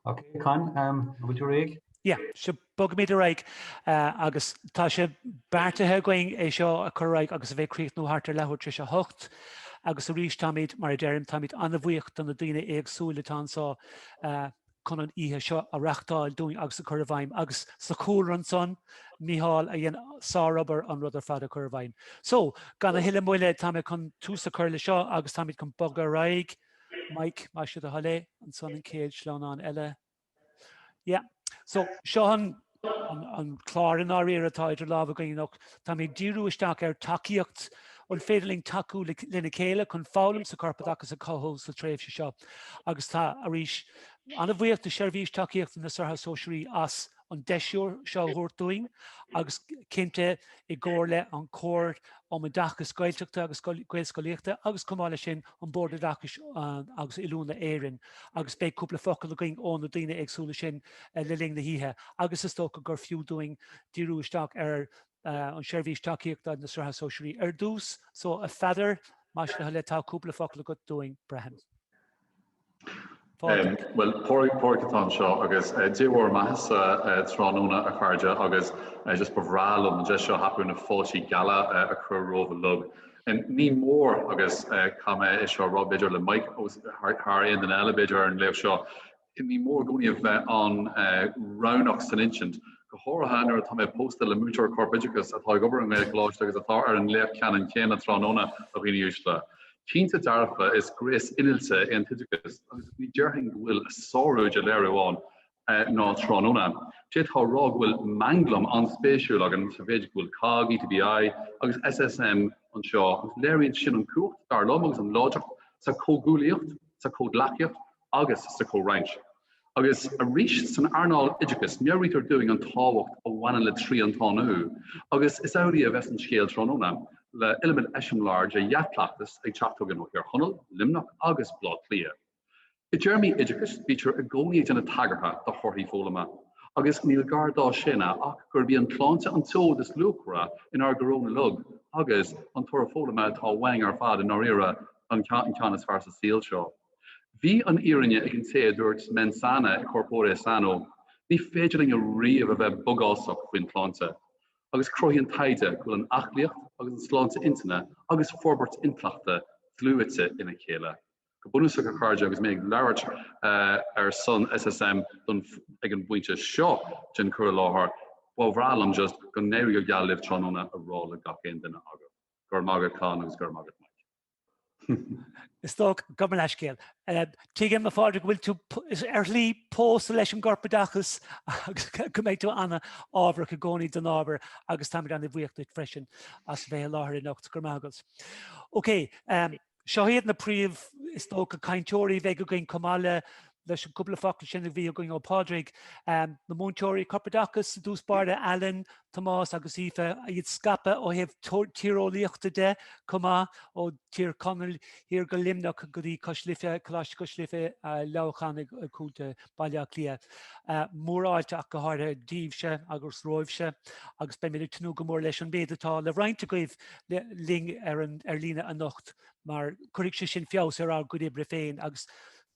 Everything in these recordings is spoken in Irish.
Ok Con, an bhfuil tú réidh? Yeah, sure, bogaimid ar aghaidh agus tá sé beartaithe againn é seo a chur ar aghaidh agus a bheith ag críochnú thart ar leathuair tar éis a hocht agus arís táimid, mar a deirim, táimid an-bhuíoch do na daoine éagsúil atá anseo chun an oíche seo a reachtáil dúinn agus a chur i bhfeidhm agus sa chúlra ansan, Mícheál, a dhein sárobair an rud ar fad a chur i bhfeidhm. So, gan a thuilleadh moille, táimid chun tús a chur le seo agus táimid chun bogadh ar aghaidh. Mike, más é do thoil é, ansan an céad sleamhnán eile. Yeah. So, seo an, an, an clár i ndáiríre atá idir lámh againn anocht. Táimid ag díriú isteach ar tacaíocht an féidir linn tacú lena chéile chun foghlaim sa corpoideachas a chothú sa tréimhse seo. Agus tá arís an-bhuíoch do Sheirbhís Tacaíochta na Sraithe Sóisearaí as an deis úr seo a thabhairt dúinn agus cinnte i gcomhar le an Chomhairle um Oideachas Gaeltachta agus Gaelscolaíochta agus chomh maith leis sin an Bord Oideachais agus Oiliúna Éireann agus beidh cúpla focal againn ó na daoine éagsúla sin le linn na hoíche agus is dócha gur fiú dúinn díriú isteach ar an seirbhís tacaíochta na Sraithe Sóisearaí ar dtús. So, a Pheadair, más é do thoil é, tá cúpla focal agat dúinn, braithim. Bhuel, Pádraig atá anseo agus Dé bhur mbeathasa tráthnóna a chairde agus just ba bhreá liom an deis seo a thapú na fáiltí geala a chur romhaibh uilig. Ní mór agus caithfidh mé é seo a rá b'fhéidir le Mike thar aon duine eile b'fhéidir ar an léacht seo, ní mór i gcónaí a bheith an-roghnach san insint, go háirithe nuair atá mé pósta le múinteoir Corpoideachais atá ag obair i nGaelcholáiste agus atá ar an léacht ceannann céanna tráthnóna a dhaoine uaisle. Cinnte dearfa is gréas innealta é an t-oideachas agus ní déarfainn go bhfuil a sárú de léiriú ann ná tráthnóna. D'fhéadfá a rá go bhfuil manglam an-spéisiúil againn sa mhéid go bhfuil COGG, ETBI agus SSM anseo agus léiríonn sin an chumhacht, dar liom, agus an láidreacht sa chomhghuaillíocht, sa chomhghleacaíocht, agus sa chomhroinnt. Agus arís san earnáil oideachais, meabhraítear dúinn an tábhacht a bhaineann le triantánú, agus is amhlaidh a bheas an scéal tráthnóna, le iliomad eiseamláir de dhea-chleachtas ag teacht chugainn ó Thír Chonaill, Luimneach agus Baile Átha Cliath. I dtéarmaí oideachais, bítear i gcónaí ag déanamh tagartha do thorthaí foghlama, agus níl gar dá shéanadh ach gurb í an tsláinte an tseoid is luachmhaire inár gcoróin uilig, agus an toradh foghlama atá uainn ar fad i ndáiríre an ceann is fearr sa saol seo. Bhí an fhírinne ag an té a dúirt mens sana in corpore sano, ní féidir linn ariamh a bheith bogásach faoin tsláinte, agus cruthaíonn taighde go bhfuil an aclaíocht agus an tsláinte intinne agus forbairt intleachta dlúite ina chéile. Go bunúsach, a chairde, agus mé ag labhairt ar son SSM don ag an bpointe seo den chur i láthair, ba bhreá liom just go n-éirí go geal libh tráthnóna a rá le gach aon duine agaibh. Go raibh maith agat Con agus go raibh maith agat Mike. Is dócha, gabh mo leithscéal. Tuigim, a Phádraig, go bhfuil tú ar shlí, pósta leis an gcorpoideachas agus go mbeidh tú an-ábharach i gcónaí don ábhar agus táimid an-bhuíoch duit freisin as bheith i láthair anocht. Go raibh maith agat. Okay. Seo iad na príomh, is dócha, cainteoirí a bheidh againn chomh maith le leis an cúpla focal sin a bhí againn ó Phádraig, na múinteoirí corpoideachais ar dtús báire, Alan, Tomás agus Aoife, iad scaipthe ó thaobh tíreolaíochta de chomh maith, ó Thír Chonaill thiar go Luimneach go dtí Cois Life, Coláiste Cois Life, Leamhcán i gContae Bhaile Átha Cliath. Mórfháilte ach go háirithe daoibhse agus romhaibhse agus beimid ag tnúth go mór leis an mhéad atá le roinnt agaibh linn ar líne anocht mar cuirfidh sé sin feabhas ar ár gcuid oibre féin agus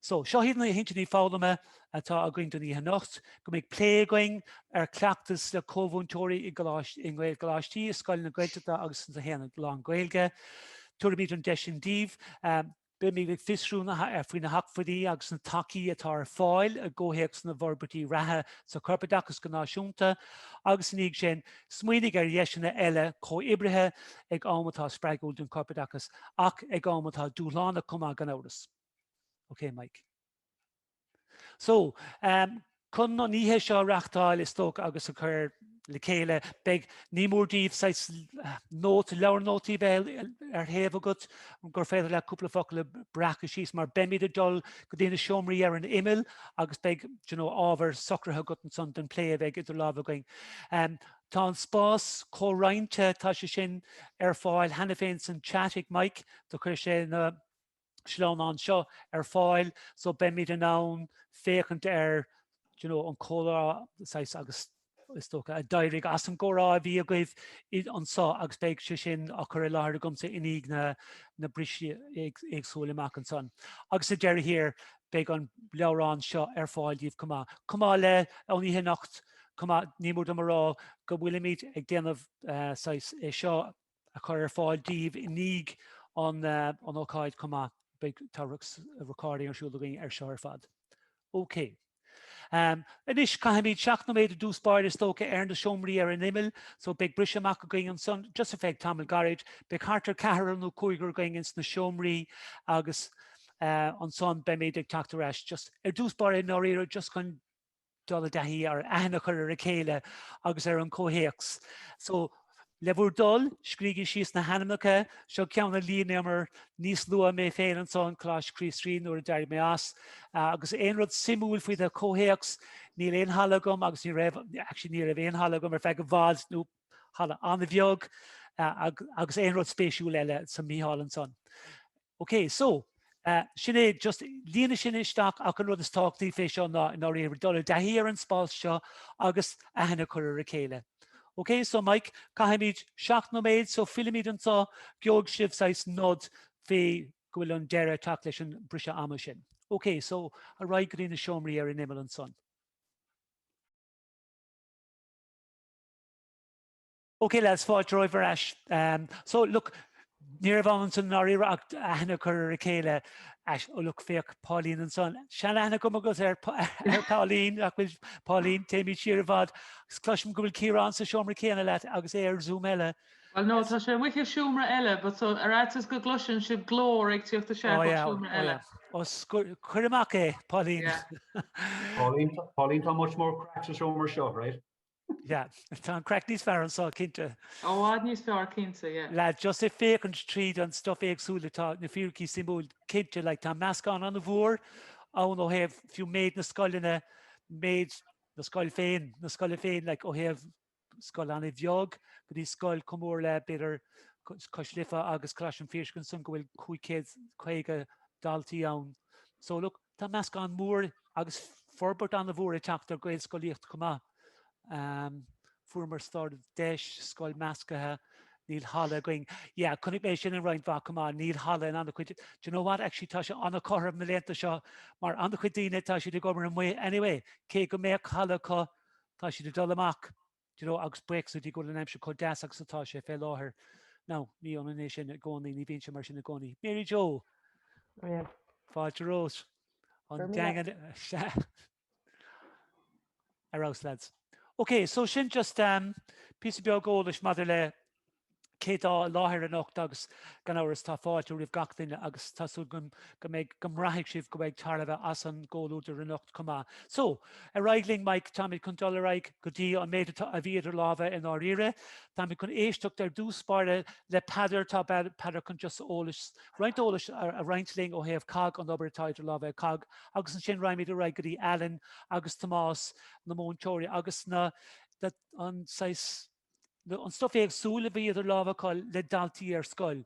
So, seo iad na hintinní foghlama atá againn don oíche anocht, go mbeidh plé againn ar chleachtas le comh-mhúinteoirí i nGaelcholáistí, i scoileanna Gaeltachta agus ins na haonaid lán-Ghaeilge. Tabharfaimid an deis sin daoibh. Beimid ag fiosrú ar faoi na hacmhainní agus na tacaí atá ar fáil i gcomhthéacs na bhforbairtí reatha sa chorpoideachas go náisiúnta agus, i ndiaidh sin, Smaoinigh ar dheiseanna eile comhoibrithe ag am atá spreagúil don chorpoideachas ach ag am atá dúshlánach chomh maith, gan amhras. OK, Mike. So, chun an oíche seo a reachtáil is dócha agus a chur le chéile, beidh ní mór díbh saghas nót, leabhar nótaí bheith ar thaobh agat gur féidir leat cúpla focal a breacadh síos mar beimid ag dul go dtí na seomraí ar an imeall agus beidh you know, ábhar socraithe agat ansan don plé a bheidh idir lámh againn. Tá an spás comhroinnte, tá sé sin ar fáil cheana féin san chat ag Mike, do chuir sé na sleamhnáin seo ar fáil, so beimid in ann féachaint ar you know an comhrá saghas agus is dócha a d'éirigh as an gcomhrá a bhí agaibh anseo agus beidh sé sin á chur i láthair agamsa i ndiaidh na na bristí éagsúla amach ansan. Agus sa deireadh thiar beidh an leabhrán seo ar fáil díbh chomh maith. Chomh maith le an oíche anocht, Chomh maith, ní mór dom a rá go bhfuilimid ag déanamh saghas é seo a chur ar fáil daoibh i ndiaidh an ócáid chomh maith. Beidh, tá recording ar siúl againn ar seo ar fad. OK. Anois, caithfimid seacht nóiméad ar dtús báire is dócha ar na seomraí ar an imeall, so beidh briseadh amach againn ansan, just ar feadh tamaill gairid. Beidh thart ar ceathrar nó cúigear againn ins na seomraí agus ansan beimid ag teacht ar ais, just, ar dtús báire i ndáiríre just chun, dul i dtaithí ar aithne a chur ar a chéile agus ar an chomhthéacs. So, le bhur dtoil, scrígí síos na hainmneacha, seo ceann a líonamar níos luaithe mé féin ansan Coláiste Chríost-Rí nuair a d'éirigh mé as. Agus aon rud suimiúil faoi do chomhthéacs, níl aon halla agam agus ní raibh, actually ní raibh aon halla agam ar feadh i bhfad nó halla an-bheag agus aon rud spéisiúil eile so Mícheál ansan. OK, so, sin é, just líonadh sin isteach ach an rud is tábhachtaí fé seo ná, i ndáiríre, dul i dtaithí ar an spás seo agus aithne a chur ar a chéile. OK, so Mike, caithfimid seacht nóiméad, so fillimid anseo, gheobhaidh sibh saghas nod fé go bhfuil an deireadh ag teacht leis an briseadh amach sin. OK, so, ar aghaidh go dtí na seomraí ar an imeall ansan. OK, lads, fáilte romhaibh ar ais. So, look, ní raibh ann ansan ndáiríre ach aithne a chur ar a chéile. Oh, look, féach, Pauline ansan. Seanaithne agam ar Pauline, nach bhfuil Pauline, téimid siar i bhfad. Agus cloisim go bhfuil Ciarán sa seomra céanna leat agus é ar Zoom eile. Well, no, tá sé amuigh i seomra eile, but so, ar fhaitíos go gcloiseann sibh glór ag tíocht isteach ó seomra eile. Ó, cuir amach é, Pauline. Pauline, tá much more craic sa seomra seo, right? Yeah, tá an craic níos fearr anseo cinnte. I bhfad níos fearr cinnte, yeah. Lads, just ag féachaint tríd an stuif éagsúil atá na fíricí suimiúil cinnte, like, tá meascán an-mhór ann ó thaobh fiú méid na scoileanna, méid na scoil féin, na scoile féin, like, ó thaobh scoil an-bheag go dtí scoil chomh mór le b'fhéidir Cois Life agus Coláiste an Phiarsaigh ansan go bhfuil 550 daltaí ann. So look, Tá meascán mór agus forbairt an-mhór ag teacht ar Ghaelscolaíocht chomh maith. Fuaireamar startdeis, scoil meascaithe, níl halla againn. Yeah, chonaic mé sin in roinnt mhaith chomh maith, níl halla in an-chuid, do you know what, actually tá sé an-chosúil na laethanta seo mar an-chuid daoine tá siad ag gabháil amuigh anyway, cé go mbeadh halla acu, tá siad ag dul amach. Do you know, agus buíochas le Dia go bhfuil an aimsir chomh deas agus atá sé fé láthair, now, ní ionann é sin i gcónaí, ní bhíonn sé mar sin i gcónaí. Mary Jo! Bhriain. Fáilte romhat. An Daingean. Ar fheabhas, lads. Ok, so sin just em, píosa beag eolais maidir le cé tá i láthair anocht agus gan amhras tá fáilte roimh gach duine agus tá súil agam go mbeidh, go mbraithfidh sibh go mbeidh tairbhe as an gcomhluadar anocht chomh maith. So, ar aghaidh linn Mike, táimid chun dul ar aghaidh go dtí an méid atá, a bheidh idir lámha i ndáiríre. Táimid chun éisteacht ar dtús báire le Peadar, tá Peadar chun just eolas, roinnt eolais a roinnt linn ó thaobh cogg, an obair atá idir lámha ag cogg agus ansin raghaimid ar aghaidh go dtí Alan agus Tomás, na múinteoirí agus na, an saghas, nó an stuif éagsúil a bhí idir lámha acu le daltaí ar scoil.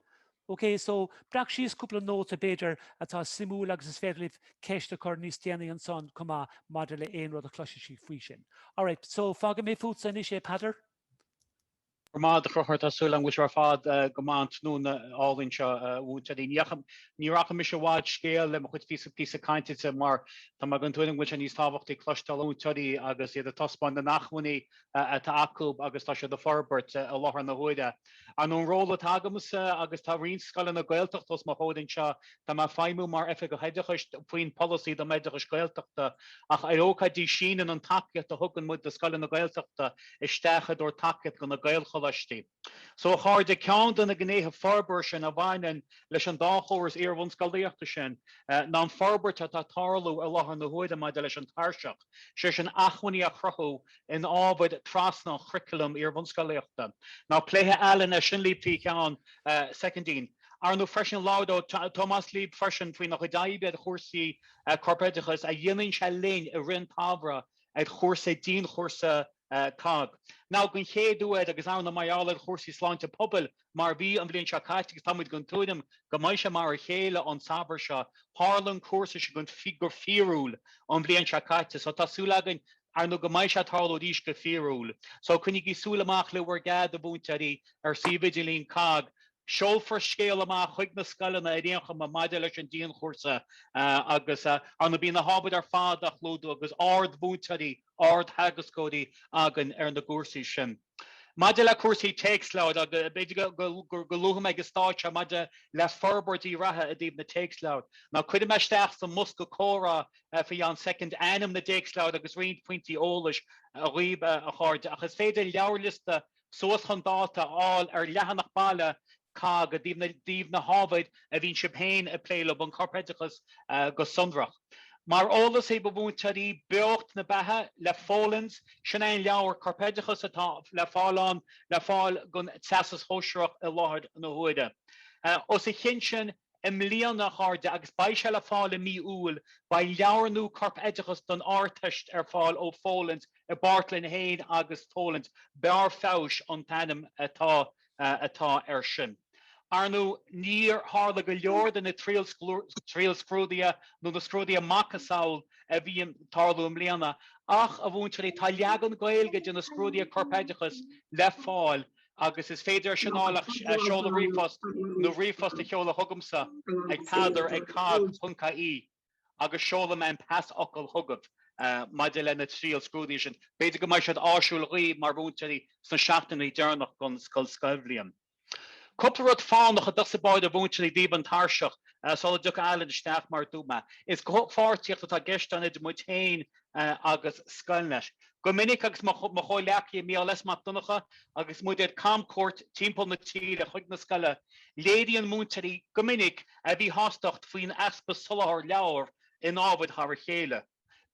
OK, so, breac síos cúpla nóta, b'fhéidir, atá suimiúil agus is féidir libh ceist a chur níos déanaí ansan chomh maith maidir le aon rud a chloisfidh sibh faoi sin. Alright, so, fágfaidh mé fútsa anois é, Peadar. Grma, a Chruchúir, tá súil agam go bhfuil sibh ar fad go maith an tráthnóna álainn seo, a mhúinteoirí. Ní, ní rachaidh mise i bhfad scéil le mo chuid píosa, píosa cainte, mar tá mé den tuairim go bhfuil sé níos tábhachtaí cloisteáil ó mhúinteoirí agus iad ag taispeáint na n-acmhainní atá acu agus tá siad ag forbairt i láthair na huaire. An, an ról atá agamsa, agus tá roinnt scoileanna Gaeltachta os mo chomhair anseo, tá mé ag feidhmiú mar Oifigeach Oideachais faoin Pholasaí don Oideachas Gaeltachta, ach ar ócáidí síneann an tacaíocht a thugann muid do scoileanna Gaeltachta isteach i dtreo tacaíocht do na Gaelcholáistí. So, a chairde, ceann de na gnéithe forbartha sin a bhaineann leis an dá chóras iarbhunscolaíochta sin ná an forbairt atá ag tarlú i láthair na huaire maidir leis an tairseach, sé sin, acmhainní a chruthú in ábhair trasna an churaclaim iarbhunscolaíochta. Now pléifidh Alan é sin líb faoi cheann soicindín. Arnú freisin labhróidh Tomás líb freisin faoina chuid oibre ar chúrsaí corpoideachais a dhéanann sé linn i rith an tsamhraidh, ar chúrsa, dianchúrsa cogg, now den chéad uair agus ar ndóigh mar gheall ar chúrsaí sláinte pobail mar a bhí an bhliain seo caite agus táimid den tuairim go mbeidh sé mar a chéile an Samhradh seo. Tharla an cúrsa sin go fíorúil an bhliain seo caite so tá súil againn ar ndóigh go mbeidh sé ag tarlú arís go fíorúil. So coinnigí súil amach le bhur gcead, a mhúinteoirí, ar suíomh idirlín cogg Seolfar scéal amach chuig na scoileanna ar aon chuma maidir leis an dianchúrsa agus ar ndóigh bíonn na hábhair ar fad á gclúdú agus ard-mhúinteoirí, ard-theagascóirí againn ar na gcúrsaí sin. Maidir le cúrsaí téacsleabhair, agus b'fhéidir go luafaidh mé ag an stáid seo, maidir le forbairtí reatha i dtaobh na téacsleabhar, now cuirfidh mé isteach sa mbosca comhrá faoi cheann soicind ainm na dtéacsleabhar agus roinnt pointí eolais dhaoib, a chairde, agus is féidir leabharliosta suas chun dáta, a fháil ar leathanach baile cogg i dtaobh na hábhair a bhíonn sibh féin ag plé leo, an Corpoideachas go sonrach. Mar eolas dhaoibh, a mhúinteoirí, Beocht na Beatha le Folens, sin é an leabhar Corpoideachais atá le fáil ann, le fáil don Teastas Sóisearach i láthair na huaire. Os a chionn sin, i mbliana, a chairde, agus beidh sé le fáil i mí Iúil. Beidh leabhar nua, Corpoideachais don Ardteist, ar fáil ó Folens i bpáirt linn fhéin agus Folens. Barr Feabhais an t-ainm atá air sin. Ar ndóigh, níor tharla go leor de na triailscrúduithe nó na scrúduithe macasamhail a bhí ag tarlú i mbliana. Ach, a mhúinteoirí, tá leagan Gaeilge de na scrúduithe Corpoideachais le fáil agus is féidir saighneáil ach seoladh ríomhphost nó ríomhphost a sheoladh chugamsa ag peadar ag cogg ponc ie agus seolfaidh mé an pasfhocal chugat maidir leis na triailscrúduithe sin. B'fhéidir go mbeidh siad áisiúil dhaoibh mar mhúinteoirí sna seachtainí deireanacha den scoilbhliain. Cúpla rud fánach ar dtús a bhain, a mhúinteoirí, díobh an tairseach sula dtiocfaidh Alan isteach mar a dúirt mé is comhpháirtíocht atá i gceist ann idir muid féin agus Scoilnet. Go minic agus mo chomhleacaithe Mícheál S. Mac Donncha agus muid ar camcuairt timpeall na tíre chuig na scoile, léiríonn múinteoirí go minic a míshástacht faoin easpa soláthar leabhar in ábhair thar a chéile.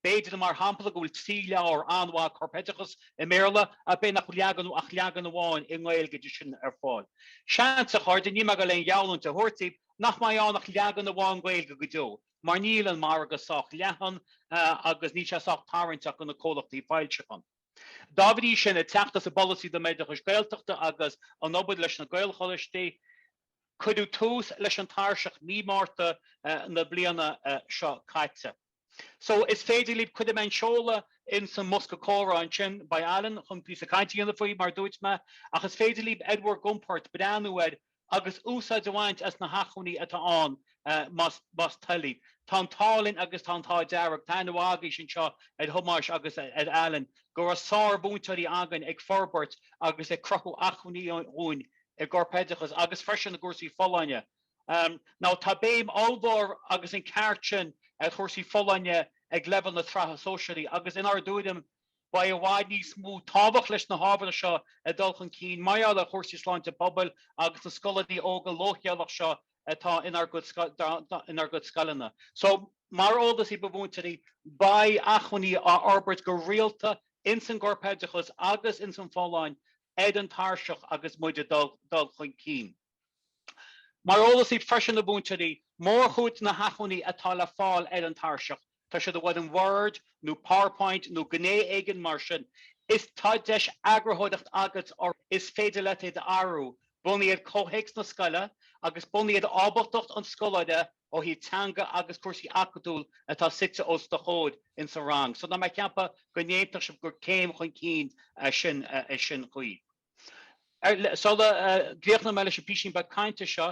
B'fhéidir, mar shampla, go bhfuil trí leabhar an-mhaith corpoideachas i mBéarla ach b'fhéidir nach leagan ach leagan amháin i nGaeilge de sin ar fáil. Seans, a chairde, níl mé ag dul aon gheallúint a thabhairt daoibh, nach mbeidh ann ach leagan amháin Gaeilge go deo. mar níl an margadh sách leathan agus níl sé sách tarraingteach do na comhlachtaí foilseachán. Dá bhrí sin, ag teacht as an bPolasaí don Oideachas Gaeltachta agus an obair leis na Gaelcholáistí, cuireadh tús leis an tairseach mí Márta na bliana seo caite. So, is féidir libh, cuirfidh mé an seoladh ins an mbosca comhrá ansin, beidh Alan chun píosa cainte a dhéanamh faoi, mar a dúirt mé, ach is féidir libh, ar bhur gcompord, breathnú air agus úsáid a bhaint as na hachmhainní atá ann más toil libh. Tá an t-ádh linn agus tá an t-ádh dearg, tá an-mheas againn anseo ar Thomás agus ar Alan, go raibh sármhúinteoirí againn ag forbairt agus ag cruthú acmhainní dhúinn i gcorpoideachas agus freisin i gcúrsaí folláine. Now tá béim ollmhór agus an ceart sin ar chúrsaí folláine ag leibhéal na Sraithe Sóisearaí agus inár dtuairim, Beidh i bhfad níos mó tábhacht leis na hábhair seo ag dul chun cinn mar gheall ar chúrsaí sláinte pobail agus na scoláirí óga leochaileach seo atá inár gcuid scoileanna. So, mar eolas daoibh a mhúinteoirí, beidh acmhainní á bhforbairt go rialta ins an gcorpoideachas agus ins an bhfolláine ar an tairseach agus muid ag dul chun cinn. Mar eolas daoibh freisin, a mhúinteoirí, mórchuid de na hachmhainní atá le fáil ar an tairseach, tá siad i bhfoirm Word nó Powerpoint nó gné éigin mar sin, is tá deis eagarthóireacht agat orthu, is féidir leat iad a athrú, bunaithe ar chomhthéacs na scoile agus bunaithe ar ábaltacht an scoláire ó thaobh teanga agus cúrsaí acadúil atá suite os do chomhair in sa rang. So, tá mé ag ceapadh go n-aontódh sibh gur céim chun cinn sin chomh maith. Sula gcríochnóidh mé leis an bpísín beag cainte seo,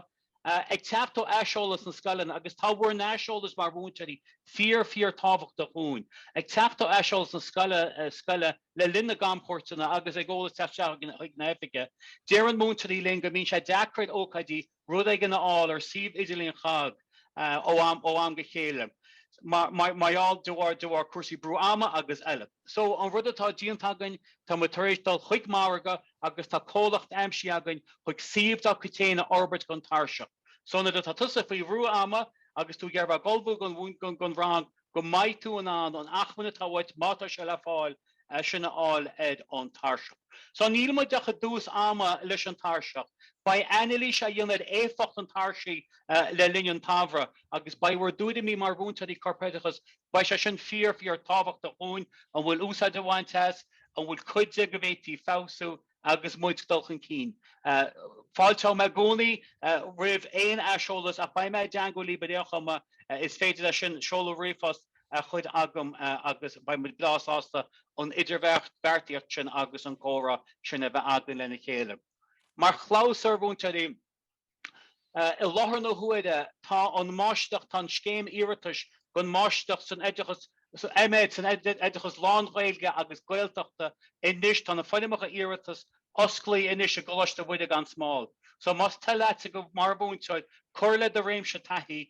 ag teacht ó aiseolas na scoileanna, agus tá bhur n-aiseolas mar mhúinteoirí fíor, fíor tábhachtach dhúinn, ag teacht ó aiseolas na scoile le linn na gcamchuairteanna agus ag eolas teacht isteach chuig na hoifigí, deireann múinteoirí linn go mbíonn sé deacair ócáidí rud éigin a fháil ar suíomh idirlín COGG ó am go chéile mar gheall, de bharr, de bharr cúrsaí brú ama agus eile. So, an rud atá déanta againn, tá muid tar éis dul chuig margadh agus tá comhlacht aimsithe againn chuig suíomh dá chuid féin a fhorbairt don tairseach. So, nuair atá tusa faoi bhrú ama agus tú ag iarraidh bheith ag ullmhú don rang, go mbeidh tú in ann an achmainn atá uait, má tá sé le fáil, sin a fháil ar an tairseach. So níl muid ach i dtús ama leis an tairseach. Beidh ainilís á dhéanamh ar éifeacht an tairsigh le linn an tsamhraidh agus beidh bhur dtuairimí mar mhúinteoirí corpoideachais, beidh sé sin fíor fíor tábhachtach dhúinn, an bhfuil úsáid á baint as, an bhfuil cuid de go bhféadfaí feabhsú, agus muid ag dul chun cinn. Fáilteoidh mé i gcónaí roimh aon aiseolas ach beidh mé i dteangmháil libh aon am is féidir leis sin. Seolaigí ríomhphost chugam agus beidh muid breá sásta an idirbheartaíocht sin agus an comhrá sin a bheith againn lena chéile. Mar chlabhsúr, a mhúinteoirí, I láthair na huaire, tá an Máistreacht, tá an scéim iarratais don Máistreacht san Oideachas, M.Oid. san Oideachas Lán-Ghaeilge agus Gaeltachta anois, tá na foirmeacha iarratais oscailte anois i gColáiste Mhuire gan Smál. So más toil leatsa mar mhúinteoir cur le do réimse taithí,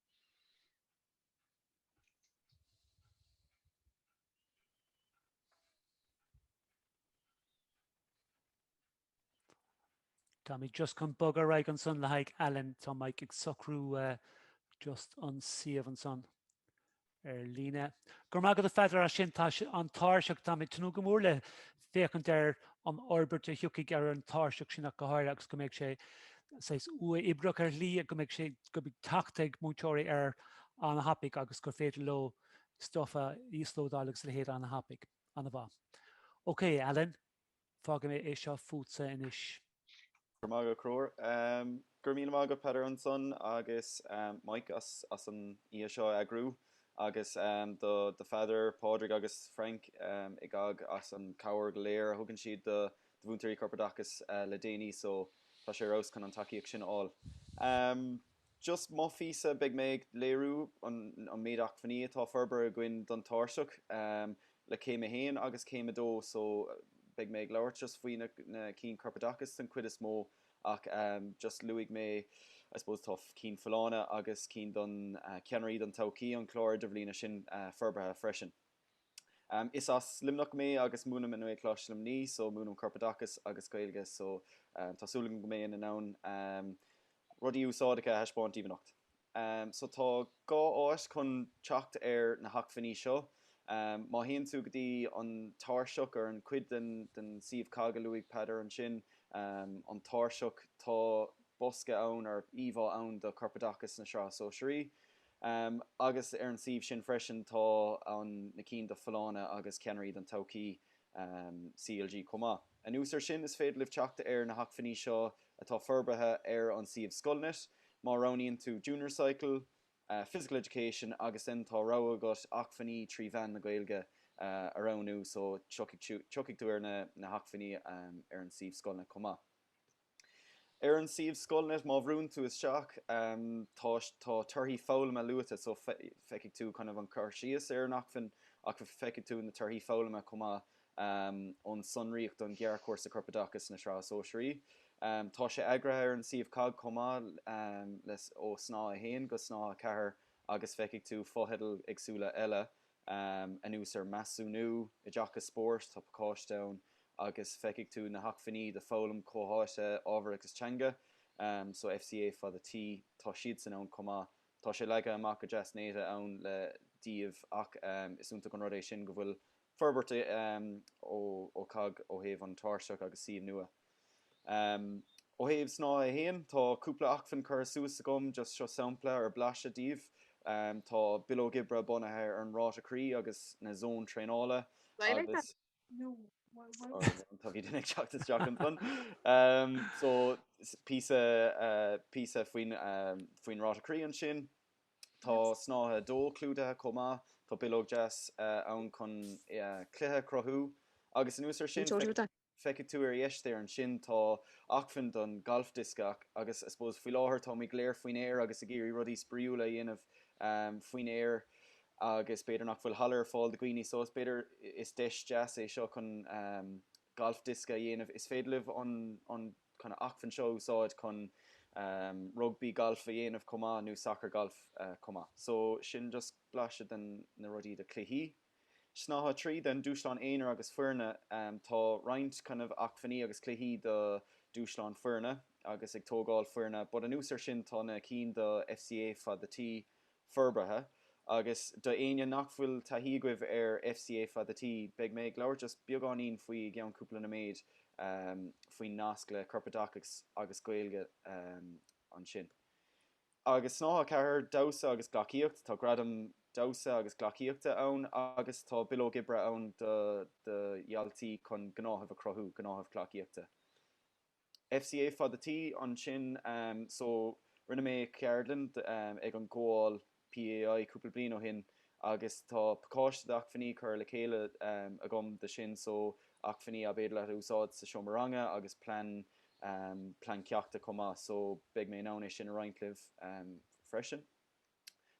Táimid just chun bogadh ar aghaidh ansan le haghaidh Alan. Tá Mike ag socrú just an suíomh ansan. ar líne. Go raibh maith agat, a Pheadair, as sin. Tá an tairseach, táim ag tnúth go mór le féachaint ar an fhorbairt a thiocfaidh ar an tairseach sin ach go háirithe agus go mbeidh sé saghas uathoibríoch ar shlí, go mbeidh sé, go mbeidh teacht ag múinteoirí air an-thapaidh agus gur féidir leo stuff a íoslódáil agus a leithéid an-thapaidh. An-mhaith. Okay, Alan. Fágfaidh mé é seo fútsa anois. Go raibh maith agat Conchúr. Go raibh míle maith agat Peadar ansan agus Mike as as an oíche seo a eagrú agus do do Pheadar, Pádraig agus Frank i gCOGG as an cabhair go léir a thugann siad do do Mhúinteoirí Corpoideachais le déanaí so tá sé ar fheabhas chun an tacaíocht sin a fháil. Just mo phíosa, beidh mé ag léiriú an méid acmhainní atá forbartha againn don tairseach le céim a haon agus céim a dó so beidh mé ag labhairt just faoi na cinn corpoideachais den chuid is mó ach just luafaidh mé I suppose tá cinn folláine agus cinn don ceannairí don todhchaí an clár idirbhliana sin forbartha freisin. Is as Luimneach mé agus múinim i nGaelcholáiste Luimnigh so múinim Corpoideachas agus Gaeilge so tá súil agam go mbeinn in ann rudaí úsáideacha a thaispeáint daoibh anocht. So tá dhá áis chun teacht ar na hacmhainní seo. Má théann tú go dtí an tairseach ar an chuid den suíomh COGG a luaigh Peadar ansin, an tairseach, tá bosca ann, or íomhá ann do Corpoideachas na Sraithe Sóisearaí. Um, agus ar an suíomh sin freisin tá an, na cinn do Folláine agus Ceannairí don Todhchaí, um, CLG chomh maith. Anuas ar sin is féidir libh teacht ar na hacmhainní seo atá forbartha ar an suíomh Scoilnet. Má roghnaíonn tú Junior Cycle, Uh, Physical Education agus den tá rogha agat acmhainní trí mheán na Gaeilge, uh, a roghnú so tiocfaidh, tiocfaidh tú ar na, na hacmhainní, um, ar an suíomh Scoilnet chomh maith. Ar an suíomh Scoilnet, má bhrúnn tú isteach, tá torthaí foghlama luaite, so feicfidh tú kind of an cur síos ar an acmhainn ach feicfidh tú na torthaí foghlama chomh maith ón sonraíocht don Ghearrchúrsa Corpoideachais na Sraithe Sóisearaí. Tá sé eagraithe ar an suíomh COGG chomh maith le ó Snáithe 1 go Snáithe 4 agus feicfidh tú fotheidil éagsúla eile um anuas ar measúnú, oideachas spóirt tá pacáiste ann agus feicfidh tú na hacmhainní do foghlaim comhtháite ábhair agus teanga um so FCA fada T tá siadsan ann chomh maith. Tá sé leagtha amach go deas néata ann le díobh ach um is iontach an rud é sin go bhfuil forbairt um ó COGG ó thaobh an tairseach agus suíomh nua. Ó thaobh snáithe a haon, tá cúpla acmhainn curtha suas agam, just seo sampla or blaiseadh díobh, tá bileog oibre bunaithe ar an ráta croí agus na zóin traenála agus. so píosa faoin ráta croí ansin. Tá snáithe a dó clúdaithe chomh maith, tá bileog deas ann chun cluiche a chruthú agus anuas ar sin, Feicfidh tú ar dheis ansin, tá acmhainn don ghalfdiosca agus I suppose faoi láthair táimid go léir faoin aer agus ag iarraidh rudaí spraíúla a dhéanamh faoin aer agus b'fhéidir nach bhfuil halla ar fáil do dhaoine so b'fhéidir is deis deas é seo chun galfdiosca a dhéanamh. Is féidir libh an kind of acmhainn seo a úsáid chun rugbaí galf a dhéanamh chomh maith nó sacar galf chomh maith. So sin just blaiseadh de na rudaí do cluichí. Snáithe 3 then, Dúshláin Aonair agus Foirne, Tá roinnt kind of acmhainní agus cluichí do dhúshláin foirne agus ag tógáil foirne but anuas ar sin tá na cinn do FCA fada T forbartha agus do éinne nach bhfuil taithí agaibh ar FCA fada T beidh mé ag labhairt just beagáinín faoi i gceann cúpla nóiméad faoin nasc le Corpoideachas agus Gaeilge ansin. Agus Snáithe 4, Damhsa agus Gleacaíocht, tá Gradam Damhsa agus Gleacaíochta ann agus tá Bileog Oibre ann do do dhaltaí chun gnáthamh a chruthú, gnáthamh gleacaíochta. FCÁT ansin so rinne mé ceardlann ag an gcomhdháil PEAI cúpla bliain ó shin agus tá pacáiste d'acmhainní curtha le chéile agam do sin so acmhainní ab fhéidir leat a úsáid sa seomra ranga agus plean um, plean ceachta chomh maith so beidh mé in ann é sin a roinnt libh um freisin.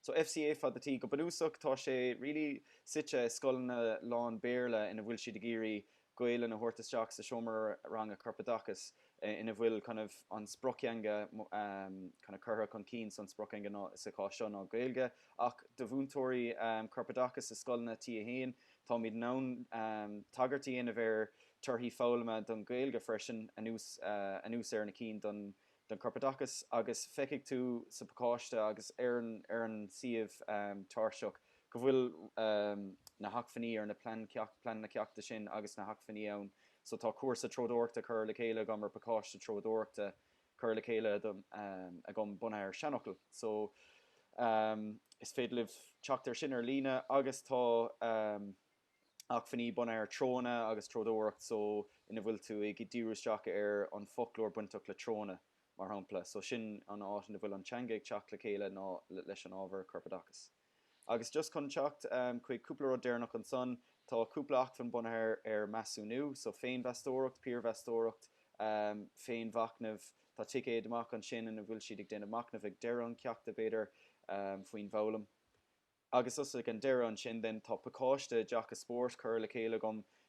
So FCÁT. Go bunúsach tá sé really suite i scoileanna lán-Bhéarla ina bhfuil siad ag iarraidh Gaeilge a thabhairt isteach sa seomra ranga corpoideachais ina bhfuil kind of an sprioctheanga um kind of curtha chun cinn so an sprioctheanga ná sa chás seo ná Gaeilge ach do mhúinteoirí um corpoideachais i scoileanna T1 Táimid in ann tagairt a dhéanamh air torthaí foghlama don Ghaeilge freisin, anuas anuas ar na cinn don don Chorpoideachas, agus feicfidh tú sa phacáiste agus ar an ar an suíomh tairseach go bhfuil na hacmhainní ar na plean ceacht plean na ceachta sin agus na hacmhainní ann. So tá cúrsa treodóireachta curtha le chéile agam ar pacáiste treodóireachta cur le chéile agam bunaithe ar seanfhocail so is féidir libh teacht air sin ar líne agus tá acmhainní bunaithe ar treonna agus treodóireacht so ina bhfuil tú ag díriú isteach ar an foclóir bainteach le treonna, mar shampla, so sin an áit ina bhfuil an teanga ag teacht le chéile ná leis an ábhar corpoideachais. Agus just chun teacht chuig cúpla rud deireanach ansan, tá cúpla acmhainn bunaithe ar measúnú, so féinmheastóireacht, piarmheastóireacht, féinmhachnamh, tá ticéad amach ansin ina bhfuil siad ag déanamh machnaimh ag deireadh an cheachta, b'fhéidir, faoin bhfoghlaim. Agus just ag an deireadh ansin then, tá pacáiste oideachas spóirt curtha le chéile agam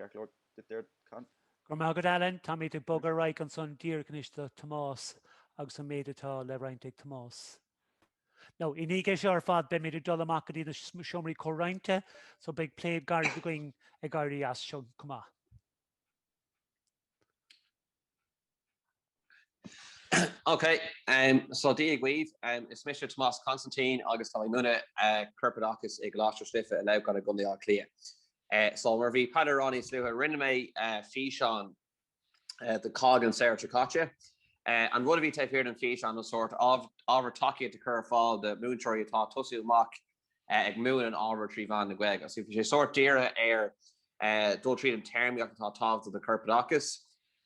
Go raibh maith agat, Alan. Táimid ag bogadh ar aghaidh ansan díreach anois do Thomás agus an méid atá le roinnt ag Tomás. Now, i ndiaidh seo ar fad beimid ag dul amach go dtí na seomraí comhroinnte so beidh plé gairid againn ag éirí as seo chomh maith. Ok, so Dia dhaoibh, is mise Tomás Constantine agus tá mé ag múineadh corpoideachais i gColáiste Cois Life i Leamhcán i gContae Átha Cliath. So mar a bhí Peadar a rá níos luaithe, rinne mé físeán do COGG an samhradh seo caite. An rud a bhí taobh thiar den físeán ná sórt ábhar tacaíochta a chur ar fáil do mhúinteoirí atá ag tosú amach ag múineadh an ábhair trí mheán na Gaeilge. So bhí sé sórt dírithe ar dul tríd an téarmaíocht atá tábhachtach do chorpoideachas,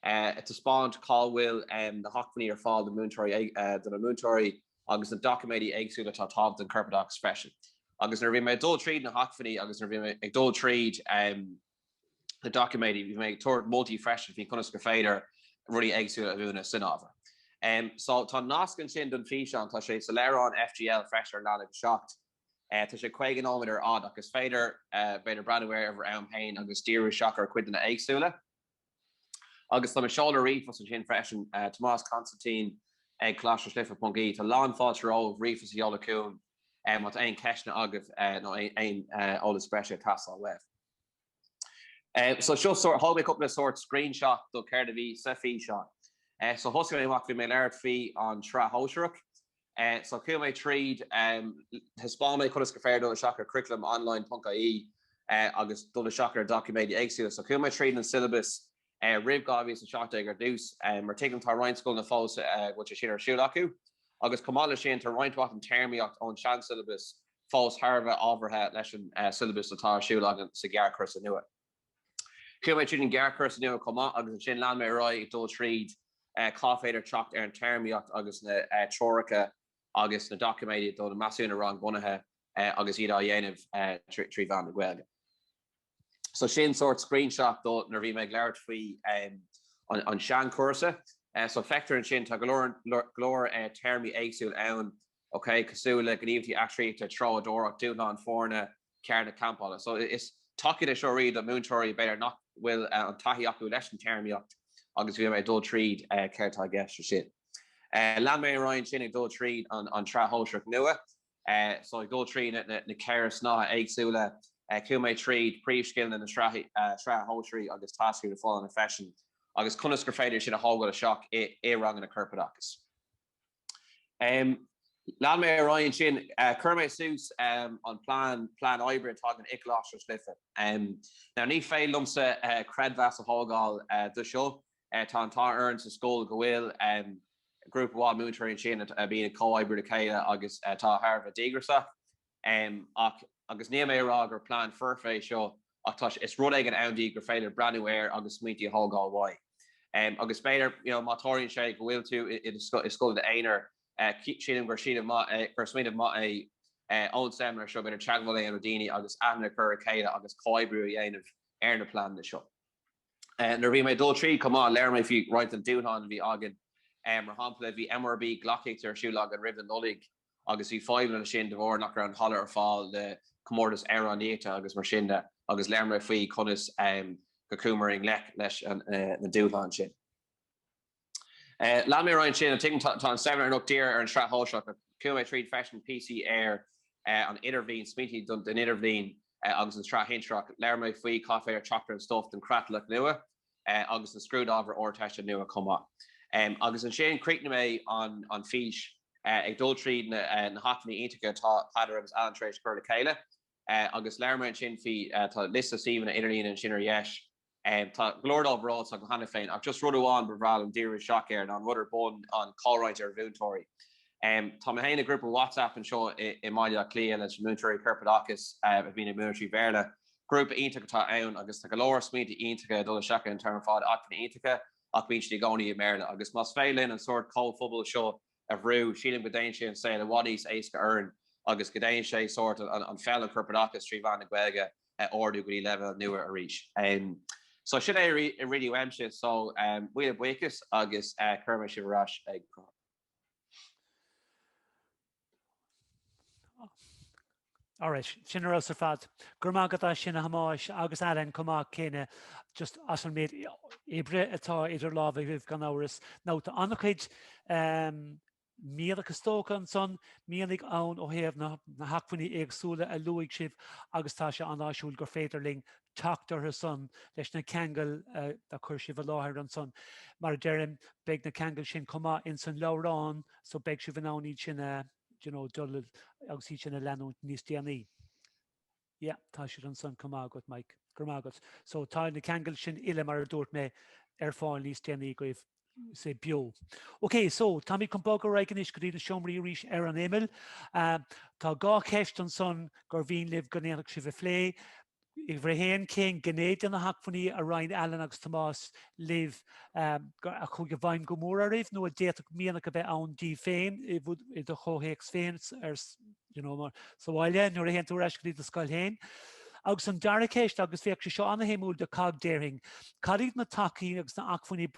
ag taispeáint cá bhfuil na hacmhainní ar fáil do na múinteoirí agus na doiciméidí éagsúla atá tábhachtach don chorpoideachas freisin. Agus nuair a bhí mé ag dul tríd na hacmhainní agus nuair a bhí mé ag dul tríd na. na doiciméid, bhí mé ag tabhairt moltaí freisin faoi conas gur féidir rudaí éagsúla a mhúineadh san ábhar. So tá an nasc ansin don físeán, tá sé sa leabhrán FGL freisin ar leathanach 7. Tá sé 50 nóiméad ar fhad ach is féidir b'fhéidir breathnú air ar bhur am féin agus díriú isteach ar chuideanna éagsúla. Agus tá mo sheoladh ríomhphost ansin freisin, Tomás Constantine ag Coláiste Cois Life ponc IE. Tá lán fáilte romhaibh ríomhphost a sheoladh chugainn má tá aon cheisteanna agaibh nó aon eolas breise ag teastáil uaibh. So seo sórt, thóg mé cúpla sórt screenshot do céard a bhí sa físeán. So thosaigh mé amach, bhí mé ag labhairt faoi an tSraith Shóisearach. So chuaigh mé tríd, thaispeáin mé conas gur féidir dul isteach ar Curriculum Online ponc IE agus dul isteach ar doiciméid éagsúla. So chuaigh mé tríd an syllabus roimh 2017 ar dtús mar tuigim tá roinnt scoileanna fós a bhfuil sé sin ar siúl acu agus chomh maith leis sin tá roinnt mhaith den téarmaíocht ón sean-syllabus fós thar a bheith ábhartha leis an syllabus atá ar siúl againn sa ghearrchúrsa nua. Chuaigh mé tríd an ghearrchúrsa nua chomh maith agus ansin lean mé ar aghaidh ag dul tríd cá féidir teacht ar an téarmaíocht agus na treoracha agus na doiciméid do na measúnuithe rangbhunaithe agus iad á dhéanamh trí mheán na Gaeilge. So sin sórt screenshot do nuair a bhí mé ag labhairt faoi an seanchúrsa. So feictear ansin tá go leor téarmaí éagsúla ann ok, cosúil le gníomhaíochtaí eachtraíochta, treodóireacht, dúshlán foirne, ceird na campála. So is tacaíocht é seo really do mhúinteoirí b'fhéidir nach bhfuil an taithí acu leis an téarmaíocht agus bhí mé ag dul tríd céard tá i gceist ansin. Lean mé ar aghaidh ansin ag dul tríd an tsraith shóisearach nua so ag dul tríd na ceithre snáithe éagsúla, chuaigh mé tríd príomhscileanna na sraithe shóisearaí agus táscairí na folláine freisin agus conas gur féidir iad sin a thógáil isteach i ranganna corpoideachais. Lean mé ar aghaidh ansin. Chuir mé suas an plean, plean oibre atá againn i gColáiste Cois Life. Now ní féidir liomsa creidmheas a thógáil do seo. Tá an t-ádh orainn sa scoil go bhfuil grúpa mhaith múinteoirí ansin a bhíonn ag comhoibriú le chéile agus atá thar a bheith díograsach. em ach. agus níl mé ag rá gur plean foirfe é seo ach tá sé. is rud éigin ann di gur féidir breathnú air agus smaointí a thógáil uaidh. em agus b'fhéidir you know má tharlaíonn sé go bhfuil tú i do i scoil i d'aonar eh sílim gur sílim gur smaoineamh maith é eh ón seimineár seo b'fhéidir teagmháil a dhéanamh le daoine agus aithne a chur ar a chéile agus comhoibriú a dhéanamh ar na pleananna seo. eh nuair a bhí mé ag dul tríd chomh maith labhair mé faoi roinnt den dúshlán a bhí againn. em mar shampla bhí MRB gleacaíocht ar siúl againn roimh an Nollaig agus bhí fadhbanna ansin de bharr nach raibh an halla ar fáil le comórtas Ealaíon Iata agus mar sin de agus labhair mé faoi conas go gcuamar i ngleic leis na dúshláin sin. Léim mé ar aghaidh ansin, an dtuigeann, tá an saibhir an ocht tír ar an sraith shóisearach, chuaigh mé tríd freisin PC ar an idirbhliain, smaointí don idirbhliain agus an tsraith shinsearach, labhair mé faoi cá féidir teacht ar an stuf don chreatlach nua agus an scrúdábhar Ardteiste nua chomh maith. Agus ansin chríochnaigh mé an fís ag dul tríd na hacmhainní iontacha atá Peadar agus Alan tar éis cur le chéile agus labhair mé ansin faoi, tá liosta suíomhanna idirlíne ansin ar dheis, tá go leor sábháilte agam cheana féin ach just rud amháin ba bhreá liom díriú isteach air ná an rud ar bun, an chomhroinnt ar mhúinteoirí. Tá mé féin i ngrúpa WhatsApp anseo i mBaile Átha Cliath leis na múinteoirí Corpoideachais a bhíonn ag múineadh trí Bhéarla Grúpa iontach atá ann agus tá go leor smaointe iontacha ag dul isteach ann ar fad, acmhainní iontacha ach bíonn siad i gcónaí i mBéarla agus más féidir linn an sórt comhphobail seo a bhrú, sílim go ndéanfaidh sé an saol i bhfad níos éasca orainn agus go ndéanfaidh sé sórt an pheil an corpoideachas trí mheán na Gaeilge a ardú go dtí leibhéal nua arís. So sin é a Ruaidhrí uaimse so míle buíochas agus cuirfidh mé sibh ar ais ag. Alright, sin ar fheabhas ar fad. Go raibh maith agat as sin a Thomáis agus Alan chomh maith céanna just as an méid oibre atá idir lámh agaibh gan amhras. Nó tá an-chuid mianach stóctha ansan, mianaigh ann ó thaobh na hacmhainní éagsúla a luaigh sibh agus tá sé an-áisiúil gur féidir linn teacht orthu san leis na ceangail a chuir sibh i láthair ansan. Mar a deirim, beidh na ceangail sin chomh maith ins an leabhrán so beidh sibh in ann iad sin a, d'you know, dul agus iad sin a leanúint níos déanaí. Yeah, tá siad ansan chomh maith agat, Mike. Go raibh maith agat. So tá na ceangail sin uile, mar a dúirt mé, ar fáil níos déanaí agaibh sé beo. Ok so táimid chun bogadh ar aghaidh anois go dtí na seomraí arís ar an imeall. Ehm tá dhá cheist ansan gur mhian linn go ndéanfadh sibh a phlé uimhir a haon cén ghné de na hacmhainní a roinn Alan agus Tomás libh ehm a chuaigh i bhfeidhm go mór oraibh nó a d'fhéadfadh mianach a bheith ann daoibh féin i do chomhthéacs féin ar you know, mar sa bhaile nuair a théann tú ar ais go dtí do scoil féin. Agus an dara ceist, agus bheadh sé seo an-shuimiúil do cogg déarfainn, cad iad na tacaí agus na acmhainní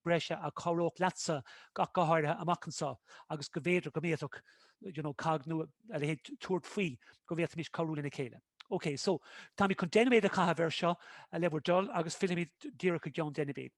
breise a chabhródh leatsa go háirithe amach anseo agus go mb'fhéidir go mbféadfadh, you know, cogg nó a leithéid tabhairt faoi go bhféadfaimis cabhrú lena chéile. Ok, so, táimid chun deich nóiméad a chaitheamh air seo le bhur dtoil agus fillfimid díreach i gceann deich nóiméad.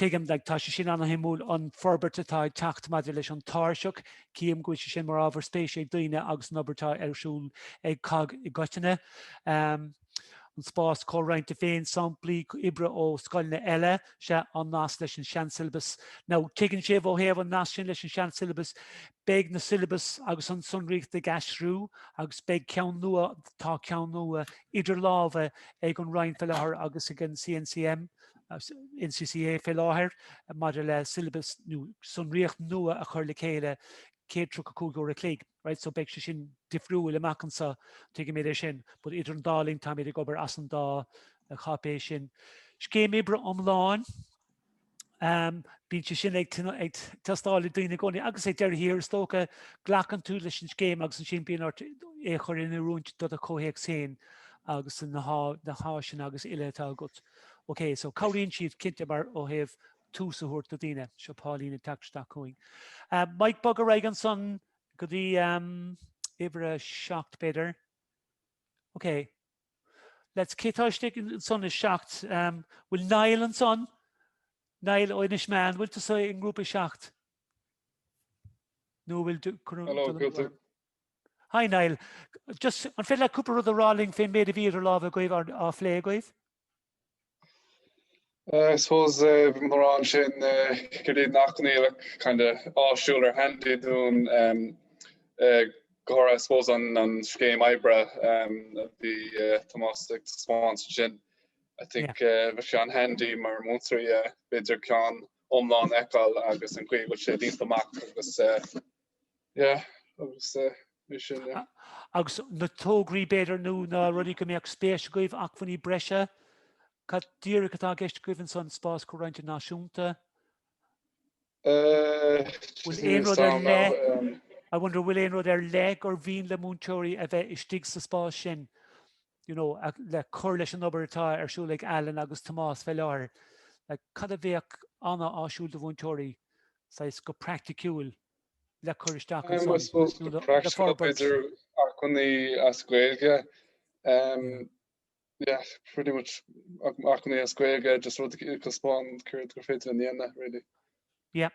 Tuigim, tá sé sin an-shuimiúil, an forbairt atá ag teacht maidir leis an tairseach, cím go bhfuil sé sin mar ábhar spéise ag daoine agus an obair atá ar siúl ag COGG i gcoitinne. An spás comhroinnte féin, samplaí oibre ó scoileanna eile, sea, an nasc leis an seansiollabas. Now, tuigeann sibh, ó thaobh an nasc sin leis an seansiollabas, beidh na siollabais agus an tsonraíocht ag aistriú agus beidh ceann nua, tá ceann nua idir lámha ag an Roinn faoi láthair agus ag an CNCM, NCCA fé láthair maidir le syllabus nó sonraíocht nua a chur le chéile 135 uair an chloig right so beidh sé sin difriúil amach anso tuigim é sin but idir an dá linn táimid ag obair as an dá cháipéis sin. Scéim oibre iomlán um, bíonn sé sin ag, ag teastáil ó dhaoine i gcónaí agus i ndeireadh thiar is dócha glacann tú leis an scéim agus ansin bíonn ort é a chur in oiriúint do do comhthéacs féin agus na háiseanna agus uile atá agat. OK, so cabhraíonn siad cinnte mar ó thaobh tús a thabhairt do daoine. Seo Pauline ag teacht isteach chugainn. Um, Mike bog ar aghaidh ansan go dtí um, uimhir a seacht b'fhéidir. OK. Let's cé atá istigh ansan is seacht. Um, bhfuil Niall ansan? Niall ó Inis Meán, bhfuil tusa i ngrúpa seacht? Nó bhfuil Hello, Hi Niall. Just an féidir leat cúpla rud a rá linn fén méid a bhí idir lámha agaibh á phlé agaibh? I suppose mórán ansin gurb iad na hacmhainní kind of áisiúil nó handy dúinn go háirithe I suppose an scéim oibre a bhí Tomás ag taispeáint ansin I think bhí sé an-handy mar múinteoirí bhféidir ceann iomlán a fheiceáil agus an chaoi a bhfuil sé déanta amach agus Yeah, agus é sin, yeah. Agus na tograí b'fhéidir nó na rudaí go mbeadh spéis agaibh, acmhainní breise, cad díreach atá i gceist agaibh ansan, spás comhroinnte náisiúnta? Bhfuil aon rud ar leith, I wonder, bhfuil aon rud ar leith gur mhian le múinteoirí a bheith istigh sa spás sin? you know, le cur leis an obair atá ar siúl ag Alan agus Tomás fé láthair, like, cad a bheadh an-áisiúil do mhúinteoirí, saghas go praiticiúil, le cur isteach ansan, I suppose go praiticiúil b'fhéidir acmhainní as Gaeilge, yeah, pretty much acmhainní as Gaeilge, just rud a thaispeáint céard gur féidir linn a dhéanamh, really. Yeah.